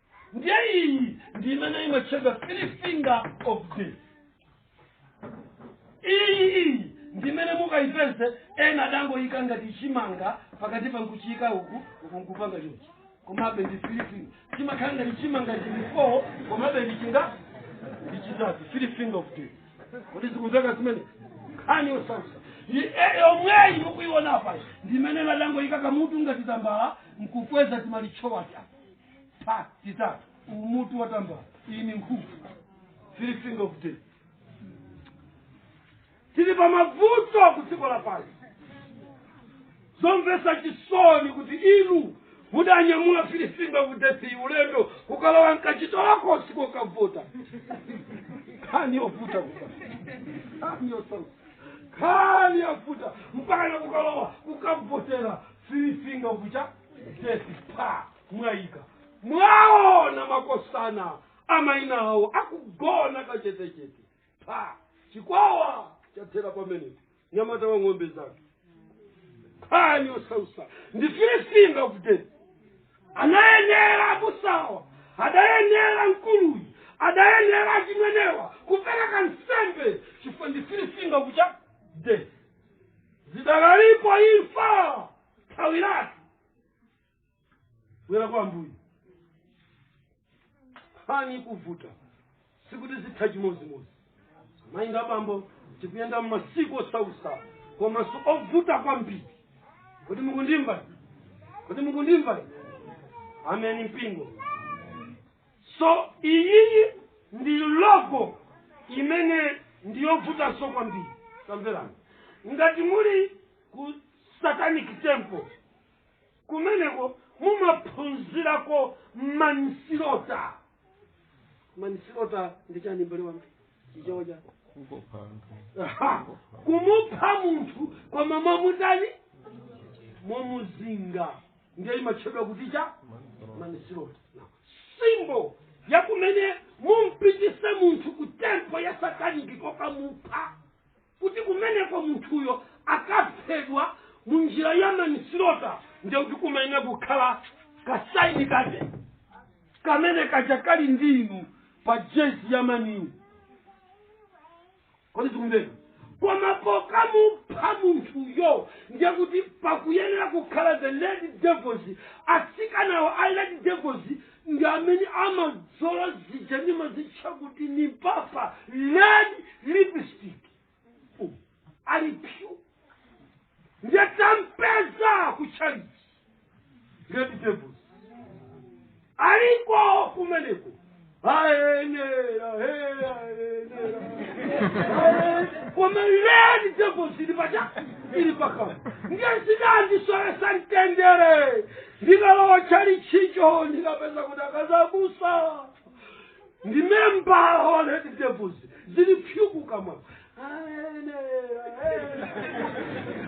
ndiye iyi ndi imene imatchedwa three finger of death iyi iyi ndi imene mukayipeze ena adangoyika ngati chimanga pakati pa nkuchiyika uku uku nkupanga chonchi komabe ndi three finger chimakhala ngati chimanga ndi four komabe ndi chinga ndi chitatu three finger of death kodi zikumveka zimene nkhani yosausa yomweyi mukuiona apa ndi imene adangoyika kamutu ngati tambala nkukweza timalichowa chapa pa titatu umutu wa tambala iyi ni nkhuku three finger of death tili pa mavuto ku dziko lapansi zomvetsa chisoni kuti inu mudanyamula three finger of death iyi ulendo kukalowa mkachibokosi kukavota nkhani yovuta nkhani yosausa nkhani yavuta mpaka nakukalowa kukavotera three finger of the death apa mwayika mwaona makosana a maina awo akugona kachetechete pa chikwawa chathera pamenepo mnyamata wa ng'ombe zake nkhani yosausa ndi three finger of death anayenera abusawa adayenera mkuluyi adayenera achimwenewa kupereka nsembe chifukwa ndi three finger of the death zidakalipo imfa thawiratu bwera kwa ambuye nkhani ikuvuta sikuti zitha chimodzimodzi mayi ndi abambo tikuyenda m'masiku osausa komanso ovuta kwambiri kodi mukundimva kodi mukundimva ameni mpingo so iyiyi ndi logo imene ndiyovutanso kwambiri tamverani ngati muli ku- satanic temple kumeneko mumaphunzirako manslaughter manslaughter ndi chani mbale wanga chichewa chani kungopha anthu Aha. kumupha munthu koma mwamutani mwamuzinga ndiye imatchedwa kuti cha manslaughter symbol yakumene mumpititse munthu ku temple ya sataniki kokamupha kuti kumeneko munthuyo akaphedwa mu njira ya manslaughter ndiye kuti kumayenera kukhala kasaini kake kamene kaja kali ndi inu pa jezi ya Man U kodi zikumveka koma pokamupha munthuyo ndiye kuti pakuyenera kukhala the red devils atsikanawo a red devils ndi amene amadzola zija ndimazitcha kuti ndi apaka red lipstick umu ali pyu ndiye tampeza ku tchalitchi red devils aliko kumeneko ayenera ayenera koma Red Devils ili pacha ili pakama ndiye zinandisowetsa mtendere Ndikalowa tchalitchicho ndikapeza kuti akazi abusa ndi member wa Red Devils zili pyu kukamwa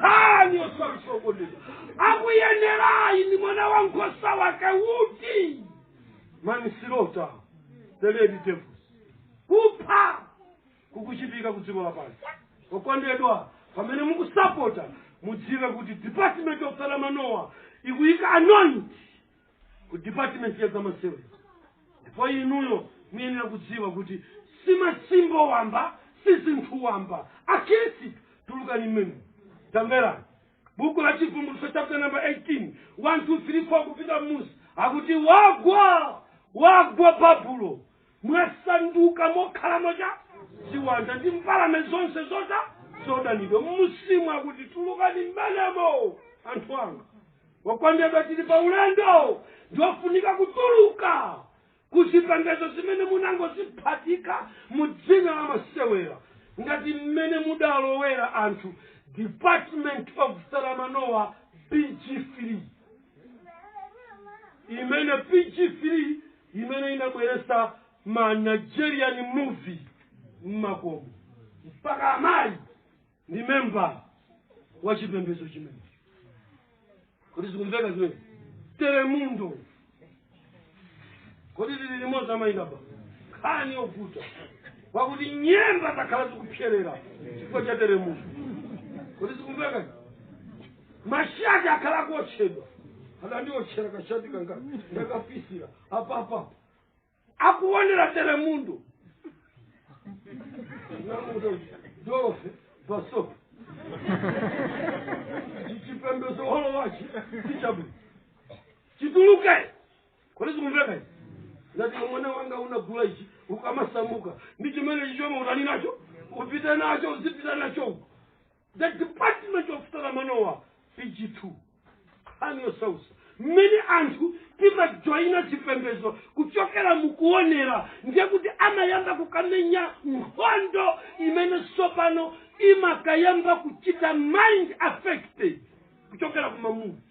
khani osamsokoneza akuyenerayi ndi mwana wa nkhosa wake uti Manchester the Red Devils kupha kukuchitika ku dziko lapansi okondedwa pamene mukusapota mudziwe kuti department of salamanoa ikuyika anoint ku department ya zamasewera ndipo inuyo muyenera kudziwa kuti si masimbol wamba si zinthu wamba akhristu tulukani mmenemo tamverani buku la chivumbulutso chapter number 18 1 2 3 4 kupita mmusi akuti wagwa wagwa babulo wasanduka mokhalamo mwa ziwanda ndi mbalame zonse zoda zodanidwa mmusimu akuti tulukani mmenemo anthu anga okondedwa tili pa ulendo ndiwofunika kutuluka kuzipembedzo zimene munangoziphatika mu dzina la masewera ngati mmene mudalowera anthu department of saramanoa pg3 imene pg3 imene inabweretsa ma nigerian movie mmakomo mpaka amayi ndi memba wa chipembedzo chimene kodi zikumveka zimene telemundo kodi tili limodzi amayi apa nkhani yovuta wakuti nyemba zakhala zikupserera chifukwa cha telemundo kodi zikumveka mashati akhala akuotchedwa adandiotchera kashati kanga ndakabisira apapa akuonera telemundo dofe basop chipembedzo holo wachi sichabu chituluke kodi zikumveka izi ngati mwana wanga unagula ichi ukamasamuka ndi chimene chichoke utani nacho upite nacho uzipita nacho uko The Department of Paramanowa, PG2. Nkhani yosausa. Mmene anthu timajoyina chipembedzo kuchokera mukuonera ndiye kuti amayamba kukamenya nkhondo imene tsopano imakayamba kuchita mind affected kuchokera kumamuvi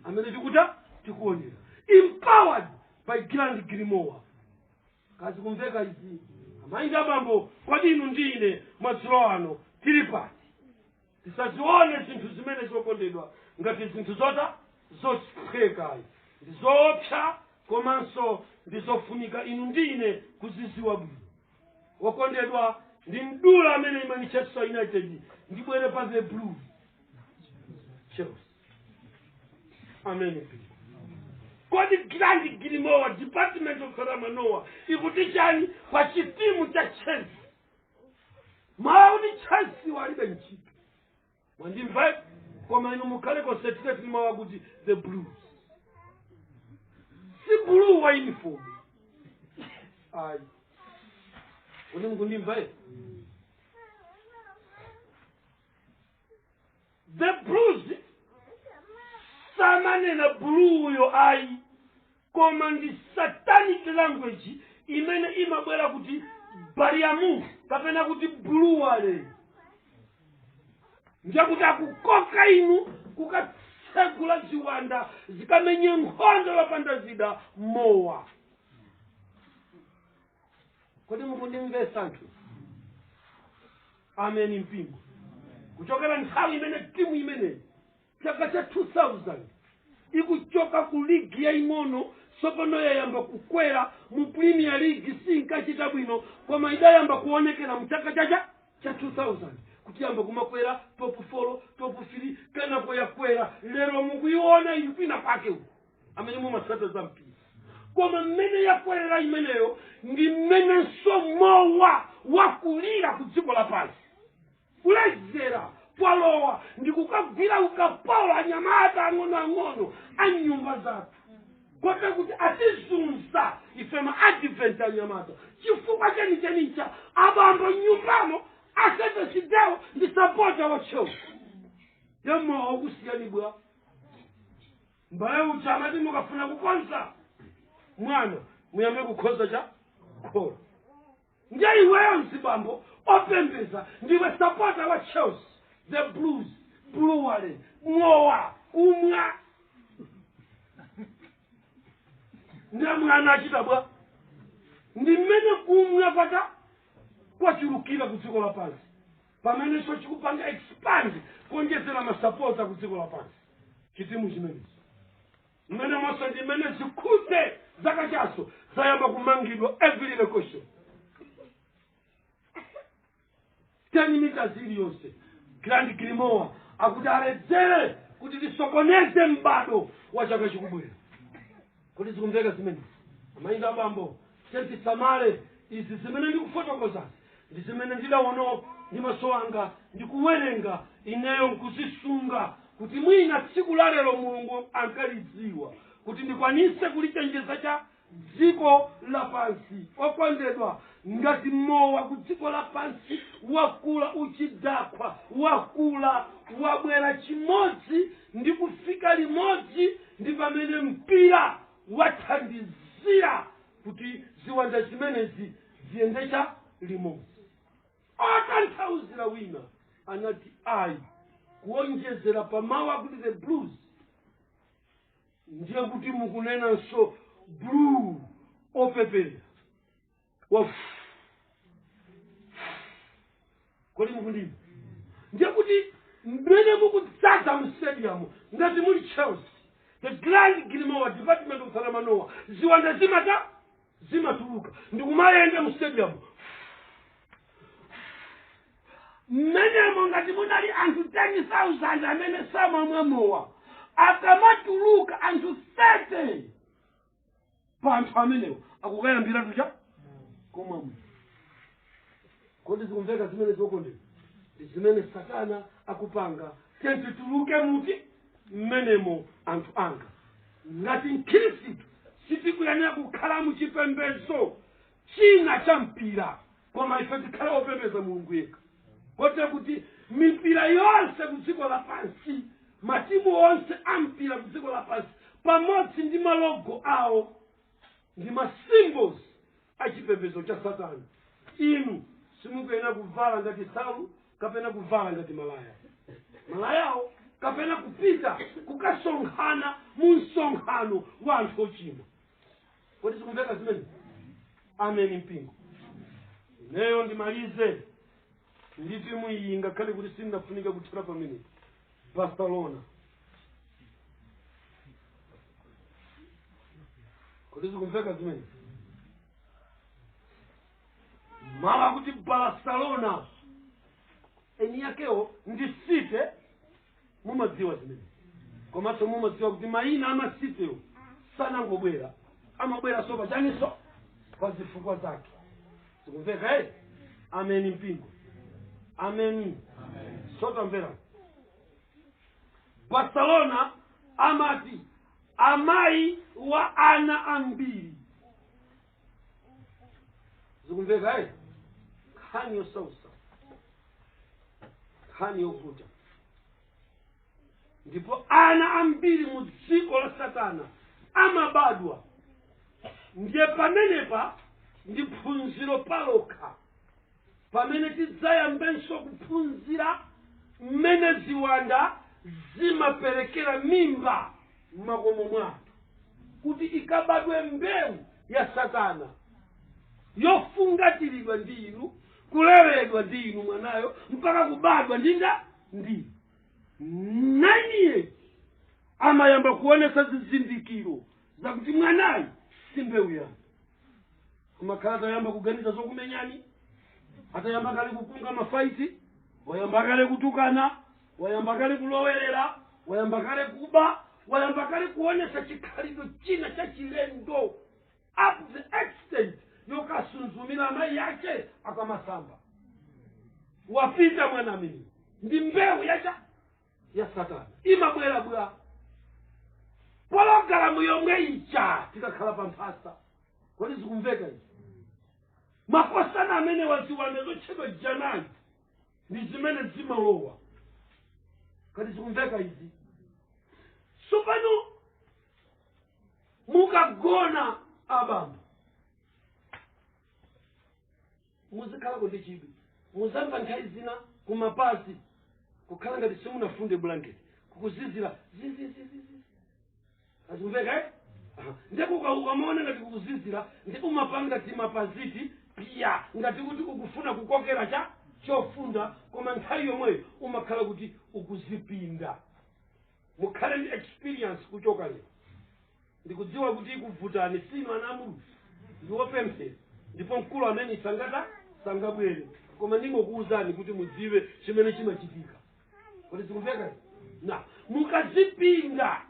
amene tikuta tikuonera empowered by grand grimoire kazikumveka izi amayi ndi abambo kodi inu ndi ine madzulo ano tili pati tisazione zinthu zimenezo okondedwa ngati zinthu zota zophweka ayi ndi zoopsa komanso ndi zofunika inu ndi ine kuziziwa bwino wokondedwa ndi mdula amene imanchester united ndibwere pa the blue chelsea amen kodi grand grimoire department of paramanowa ikuti chani pa chitimu cha chelsea mawu akuti chelsea walibe ntchito mwandimva koma inu mukhale concentrate ni mawu akuti the blues si blue wa uniform ayi kodi mukundimva the blues samanena buluuyo ayi koma ndi satanic language imene imabwera kuti bariamu kapena kuti buluwale ndiyekuti akukoka inu kukatsegula ziwanda zikamenye nkhondo yopanda zida mowa kodi mukundimvetsa anthu ameni mpingo kuchokera nthawi imene timu imeneyi chaka cha 2000 ikuchoka ku ligi yaying'ono tsopano yayamba kukwera mu premier league sinkachita bwino koma idayamba kuonekera mu chaka cha cha 2000 kuti yamba kumakwera top 4 top 3 kenako yakwera lero mukuiona ili kwina kwake uku amene mumatsata za mpira koma mmene yakwerera imeneyo ndi mmenenso mowa wakulira ku dziko lapansi kulezera kwalowa ndi kukagwira ukapolo anyamata ang'onoang'ono a m'nyumba zathu kote kuti atizunza ife maadvent anyamata chifukwa chenicheni cha abambo nyumbamo a seventh day wo ndi sapota wa chelsea mowa ukusiyani bwa M'bale uja amati mukafuna kukonza mwana muyambe kukonza cha kholo. Ndiye iweyo mzibambo opembeza ndiwe sapota wa Chelsea, the Blues, Bluwale, mowa, kumwa. Ndiye mwana achita bwa. Ndi mmene kumwa kwata kwachulukira ku dziko lapansi. pamenenso chikupanga expand kuonjezera masapota ku dziko lapansi chitimu chimenechi mmene monse ndi mmene zikhuze zaka chaso zayamba kumangidwa every location ten meters iliyonse grand grimoa akuti aledzere kuti tisokoneze m'bado wa chaka chikubwera Kodi zikumveka zimenezi? Amayi ndi abambo, tiyeni tisamale izi zimene ndikufotokoza, ndi zimene ndidaona ndi maso anga ndi kuwerenga ineyo nkuzisunga, kuti mwina tsiku la lero Mulungu ankalidziwa, kuti ndikwanise kulichenjeza cha dziko lapansi. Okondedwa, ngati mowa ku dziko lapansi wakula uchidakwa, wakula wabwera chimodzi ndi kufika limodzi ndi pamene mpira wathandizira kuti ziwanda zimenezi ziyendecha limodzi atatanthauzira wina anati ayi kuonjezera pa mawu akuti the blues ndiye kuti mukunenanso blue opepera kodi mukundimva ndiye kuti mmene mukudzaza mu stadium ngati muli chelsea the grand grimowa department of salamanowa ziwanda zimata zimatuluka ndikumayenda mu stadium mmenemo ngati munali anthu 10000 amene samamwa mowa akamatuluka anthu 30 pa anthu amenewo akukayambira tucha kumwa mowa kodi zikumveka zimene zokondera ndi zimene satana akupanga tiyeni tituluke muti mmenemo anthu anga ngati mkhristu sitikuyenera kukhala mu chipembedzo china cha mpira koma ife tikhale opembedza mulungu yekha kotera kuti mipira yonse ku dziko lapansi matimu onse ampira ku dziko lapansi pamodzi ndi malogo awo ndi ma symbols a chipembedzo cha satana inu simukuyenera kuvala ngati nsalu kapena kuvala ngati malaya malayawo kapena kupita kukasonkhana mu msonkhano wa anthu ochimwa kodi zikumveka zimene amen mpingo ineyo ndimalize ndi timu iyi ngakhale kuti sindinafunike kuthera pamene barcelona kodi zikumveka zimene mala kuti barcelona eni yakewo ndi site mumadziwa zimene komanso mumadziwa kuti mayina amasitewo sanangobwera amabweranso pachaninso pa zifukwa zake zikumveka eh ameni mpingo ameni sitamvera barcelona amati amayi wa ana ambiri zikumveka eh? nkhani yosausa nkhani yovuta ndipo ana ambiri mu dziko la satana amabadwa ndiye pamenepa ndi phunziro palokha pamene tidzayambenso kuphunzira mmene ziwanda zimaperekera mimba m'makomo mwathu kuti ikabadwe mbewu ya satana yofungatiridwa ndi inu kuleredwa ndi inu mwanayo mpaka kubadwa ndi dzina ndi naini iye amayamba kuonesa zizindikiro zakuti mwanayu si mbewu yanu amakhala atayamba kuganiza zokumenyani atayamba kale kukunga mafaiti wayamba kale kutukana wayamba kale kulowerera wayamba kale kuba wayamba kale kuonesa chikhalidwe china cha chilendo up to the extent yokasuzumira amayi yake akamasamba wapita mwana ameneyo ndi mbewu ya ya satana imabwera pa pologalamu yomwe ija tikakhala pa mphasa kodi zikumveka izi makosana ameni ziwanda zotchedwa janani ndi zimene zimalowa kodi zikumveka izi tsopano mukagona abambo muzikhalako ndi chidwi mudzamva nthawi zina kumapazi kukhala ngati simunafunde blanket kukuzizira zizizizizi zikumveka eh? Aha. nde kuka- ukamaona ngati kukuzizira ndiye umapanga timapaziti piya ngati kuti ukufuna kukokera cha chofunda koma nthawi yomweyo umakhala kuti ukudzipinda mukhale ndi experience kuchoka lero ndikudziwa kuti ikuvutani inu ana a mulungu ndi opemphera ndipo mkulu ameneyu sangata sangabwere koma ndingokuwuzani kuti mudziwe chimene chimachitika kodi zikumveka nde mukadzipinda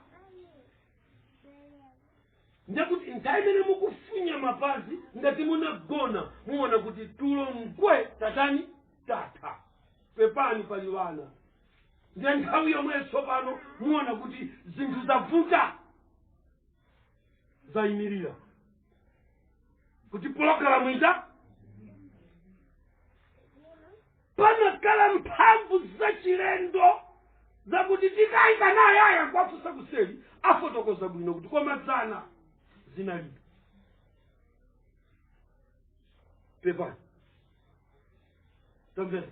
ndekuti nthawi imene mukufunya mapazi ngati mwagona muona kuti tulo ndiye tatani tatha pepani pali wana ndiye nthawi yomwe tsopano muona kuti zinthu zavuta zayimirira kuti pologalamu ija panakhala mphamvu zachilendo zakuti tikayika nayeyo nkuwafusa kuseli afotokoza bwino kuti koma dzana zinalibe pepani tamvera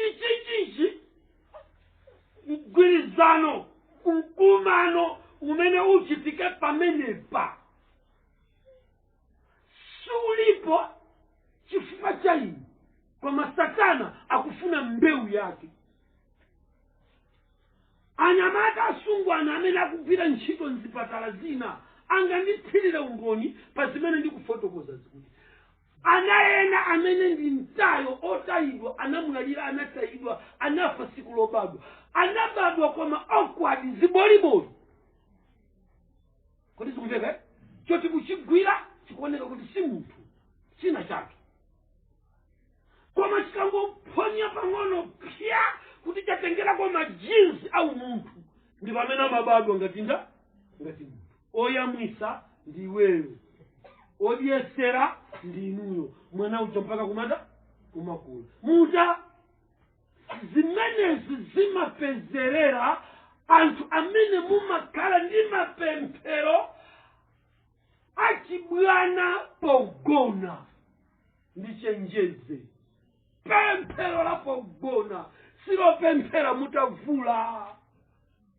ichichichi mgwirizano mkumano umene uchitike pamenepa sulipo chifukwa cha inu koma satana akufuna mbewu yake anyamata asungwana amene akugwira ntchito mzipatala zina anganditchitire umboni pa zimene ndikufotokoza zikuti ana ena amene ndi mtayo otayidwa anamwalira anatayidwa anafa sikulobadwa anabadwa koma awkward ziboliboli kodi zikumveka eh? choti kuchigwira chikuoneka kuti si munthu china chake koma chikangophonya pang'ono pya kuti chatengerako majinsi a umunthu ndi pamene amabadwa ngati nda ngati munthu oyamwisa ndi inuyo odyesera ndi inuyo mwana uja mpaka kumanda kumakula muta zimenezi zimapezerera anthu amene mumakhala ndi mapemphero achibwana pogona ndichenjeze pemphero la pogona silo pemphera mutavula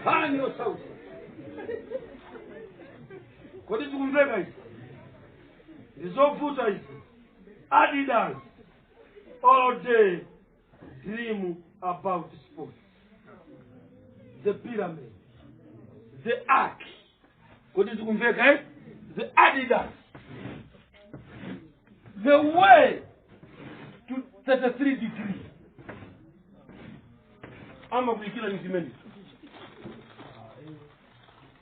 nkhani yosautsa kodi zikumveka izi ndi zovuta izi adidas all day dream about sports the pyramid the ark kodi zikumveka eh? the adidas the way to 33 degree amakuyikira ni zimene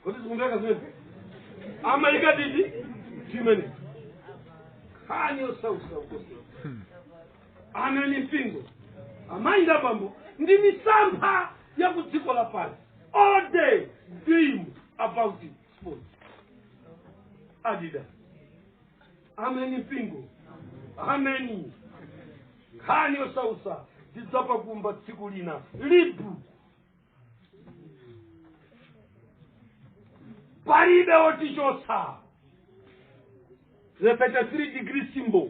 kodi zikumveka zimene amayika titi zimene nkhani yosausa ukosi amene mpingo amayi ndi abambo ndi misampha ya ku dziko lapansi all day dream about it sports adidas ameni mpingo ameni nkhani yosausa tidzapakumba tsiku lina reebok palibe wotichotsa the 33 degree symbol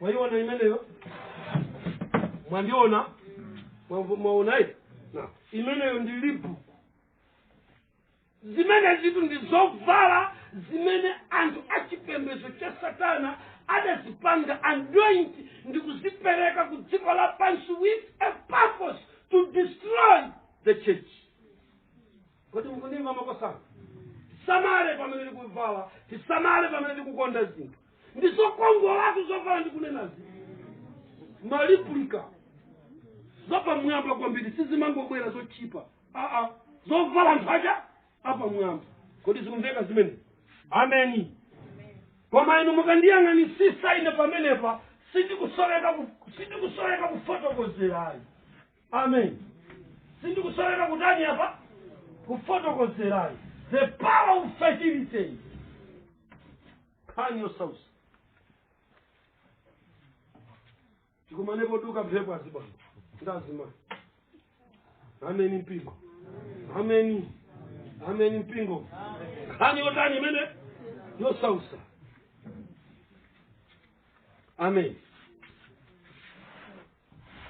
mwaiona imeneyo mwandiona mwaonayi imeneyo ndi reebok zimenezitu ndi zovala zimene anthu achipembedzo cha satana adazipanga anoint ndi kuzipereka ku dziko lapansi with a purpose to destroy the church kodi mukundimva makosana tisamale pamene tikuvala tisamale pamene tikukonda zinthu ndi zokongolatu zovala ndikunenazi ma replica zapamwamba kwambiri sizimangobwera zotchipa zovala anthu aja apamwamba kodi zikumveka zimene ameni koma inu mukandiyang'anisisa ine pamenepa sindikusoweka kufotokozerayi amen sindikusoweka kutani apa kufotokozerayi the power of fertility nkhani yosausa tikumane poduka mphepo azibambo ndi azimayi ameni mpingo ameni ameni mpingo nkhani yotani imene yosausa ameni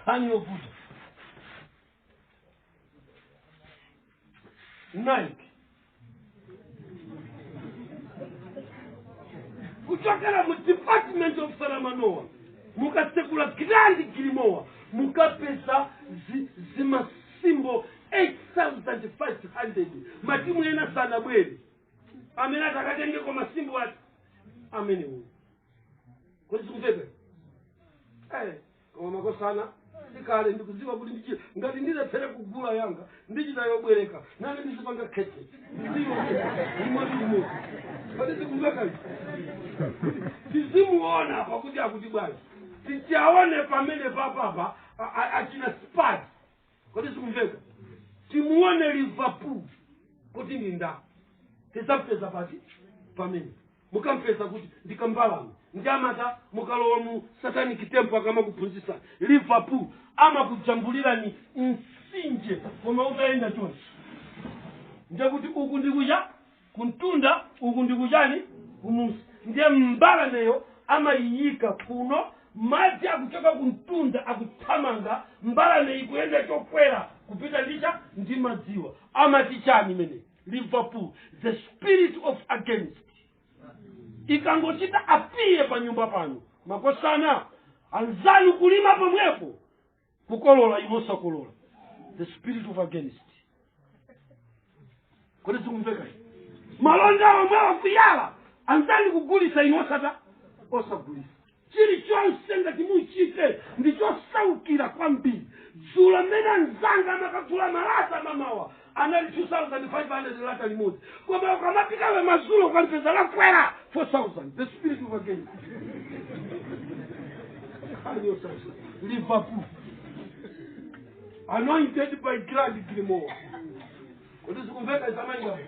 nkhani yovuta nike kuchokera mu department of salamanowa mukasekula grand grimoire mukapeza zima symbol 8500 matimu ena sanabwere amene atakatengeko ma symbol ati amenewo kodi zikumveka koma makosana ndikale ndikudziwa kuti ndichi- ngati ndilephere kugula yanga ndichita yobwereka nane ndizipanga khete ndiziyo imodzi imodzi kodi zikumvekazi tizimuona pakuti akuti bwanji tichaone pamene papapa achina spati kodi zikumveka timuone liverpool kuti ndi ndani tizampeza pati pamene mukampeza kuti ndikambalame ndi amata mukalowa mu satanic temple akamakuphunzisa liverpool amakujambulirani msinje koma utayenda chonchi ndekuti uku ndikuya kumtunda uku ndikujani kumunsi ndiye mbalameyo amayiyika kuno madzi akuchoka kumtunda akuthamanga mbalame ikuyenda chokwera kupita njira ndi madziwa amati chani imene liverpool the spirit of against ikangochita apiye pa nyumba panu, makosana anzanu kulima pomwepo kukolola inu osakolola the spirit of against kodi zikumveka? malonda omwe akuyala anzanu kugulisa inu osata osagulisa chilichonse ngati muchite ndichosaukira kwambiri dzulo mmene anzanga amakagula malata mamawa anali 2500 lata limodzi koma ukamapita madzulo ukalipeza lakwera 4000 the spirit of against liverpool anointed by grand grimoire kodi zikumveka amayi nga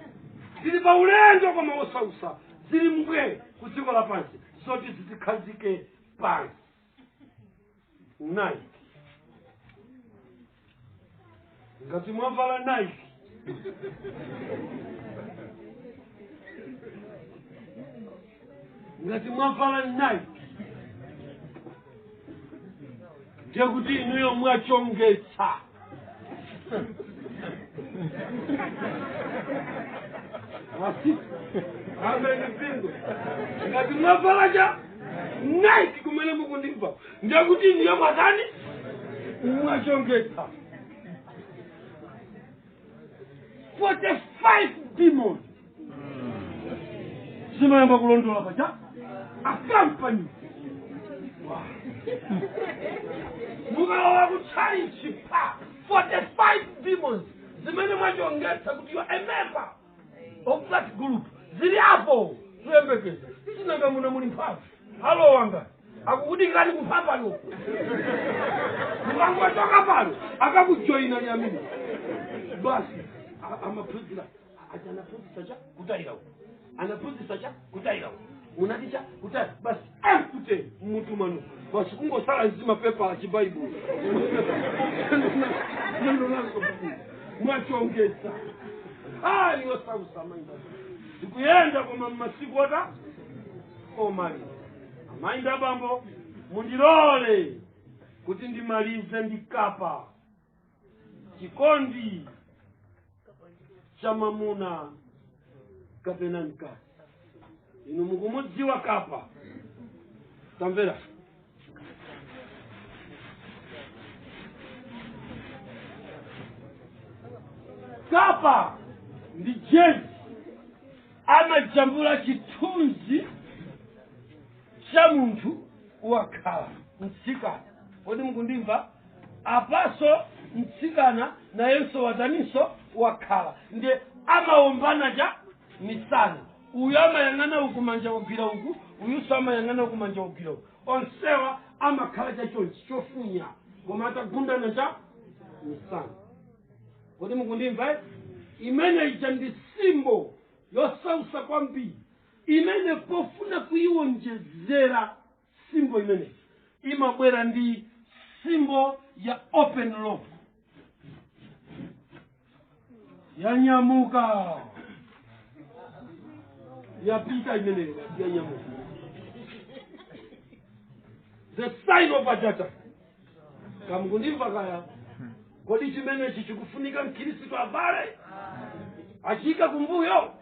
tili pa ulendo koma zosautsa zili mbwe ku dziko lapansi zoti zitikhazike pansi nike ngati mwavala nike ngati mwavala nike ndiye kuti inuyo mwachongetsa amene mpingo ngati mwavala cha nike kumene mukundimva ndekuti inuyo mwatani mwachongetsa 45 demons zimayamba kulondola paja akampani mukalowa kutchalichi pa 45 demons zimene mwachongetsa kuti you are a member of that group zili apo tuyembekeze sinanga muno muli mphamvu alowanga akukudikirani kumphambayo mukangochoka pano akakujoyinaninso basi a- amaphunzira ati anaphunzitsa cha kutayira uko anaphunzitsa cha kutayira uko unati cha kutayira basi amkute mmutu mwanu basi kungotsala zimapepa chibaibulo neno lango mwachongetsa ah niyo sausamanga tikuyenda koma mmasiku otani omaliza amayi ndi bambo mundilole kuti ndimalize ndikapa chikondi cha mamuna kapena mkazi inu mukumudziwa Kappa tamvera Kappa ndi jezi amajambula chithunzi cha munthu wakhala mtsikana kodi mukundimva apaso mtsikana nayenso wataninso wakhala ndiye amaombana cha misana uyu amayang'ana uku manja wagwira uku uyuso amayang'ana uku manja wagwira uku onsewa amakhala cha chonchi chofunya koma atagundana cha misana kodi mukundimva eh? imene ija ndi simbo yosausa kwambiri imene pofuna kuiwonjezera symbol imeneyi imabwera ndi symbol ya open love yanyamuka yapita imeneyo yanyamuka the sign of ajata kaya mukundimva kaya kodi chimenechi chikufunika mkhristu abale achiika kumbuyo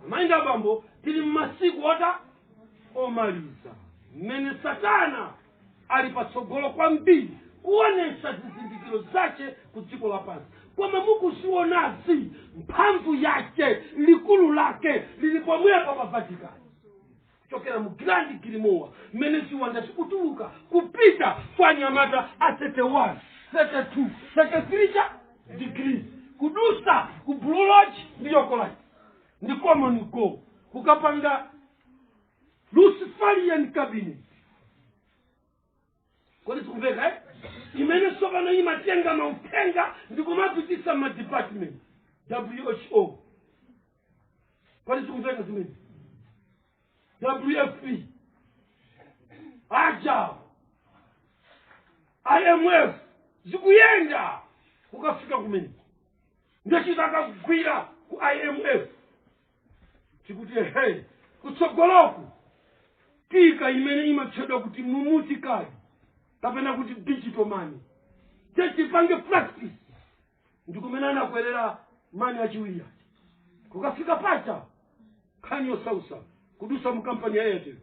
amayi nda abambo tili mmasiku ota omaliza mmene satana ali patsogolo kwambiri kuonesa zizindikiro zace ku dziko lapansi koma mukuzionazi mphamvu yace likulu lake lili pomwepo pa vatikani kuchokera mu grand grimoire mmene ziwanda zikutuluka kupita kwa anyamata a 31 32 33 degrees kudusa ku blue lodge ndi york rite ndi common go kukapanga luciferian cabinet kodi zikumveka eh? imene tsopano imatenga mauthenga ndi kumapitisa madepartment who kodi zikumveka zimene wfp aja imf zikuyenda kukafika kumene ndochita akakugwira ku imf tikuti ehe kutsogoloku tika imene imatchedwa kuti mumuti kadi kapena kuti digital money techipange practice ndikumene anakwerera mani achiwiri aja kukafika pacha nkhani yosausa kudusa mu kampani ya airtel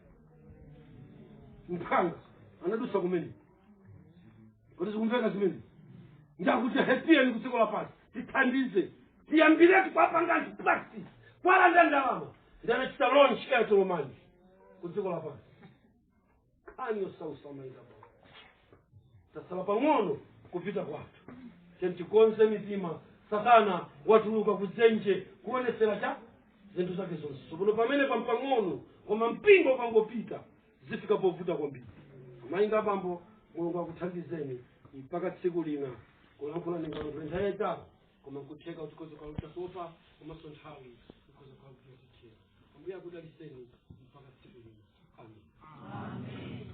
mphanga anadusa kumene kodi zikumveka zimene ndakuti hepiyeni kudziko lapansi tithandize kuyambiratu kuwapanga anthu practice kuwalanda ndalama ndi anachita launch airtel money ku dziko lapansi nkhani yosautsa mayi ka bwino tatsala pang'ono kupita kwathu tiyeni tikonze mitima satana watuluka kudzenje kuonesera cha zinthu zake zonse tsopano pamene pang'onopang'ono koma mpingo ukangopita zifika povuta kwambiri mayi inu bambo mulungu akuthandizeni mpaka tsiku lina kulankhula ndingalankhula nthawi yaitali koma nkutheka kuti tikhoza kuwatopetsa komanso nthawi ikhoza kutithera ambuye akudalitseni mpaka tsiku lina amen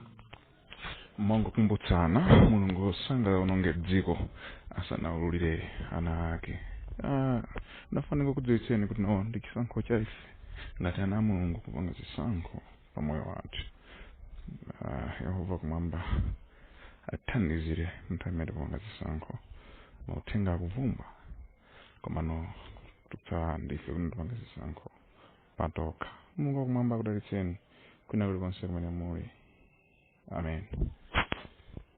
mongokumbutsana mulungu sangaononge dziko asanaululire ana ake inafuna ndikakudziwitseni kuti no ndi chisankho cha ife ngati ana a mulungu kupanga zisankho pa moyo wathu Ah, yehova wakumwamba athandizire munthu amene kupanga zisankho mauthenga akuvumbwa komano kwatsala ndife kuti tipanga zisankho patokha mulungu wakumwamba akudalitseni kwina kulikonse kumene muli amen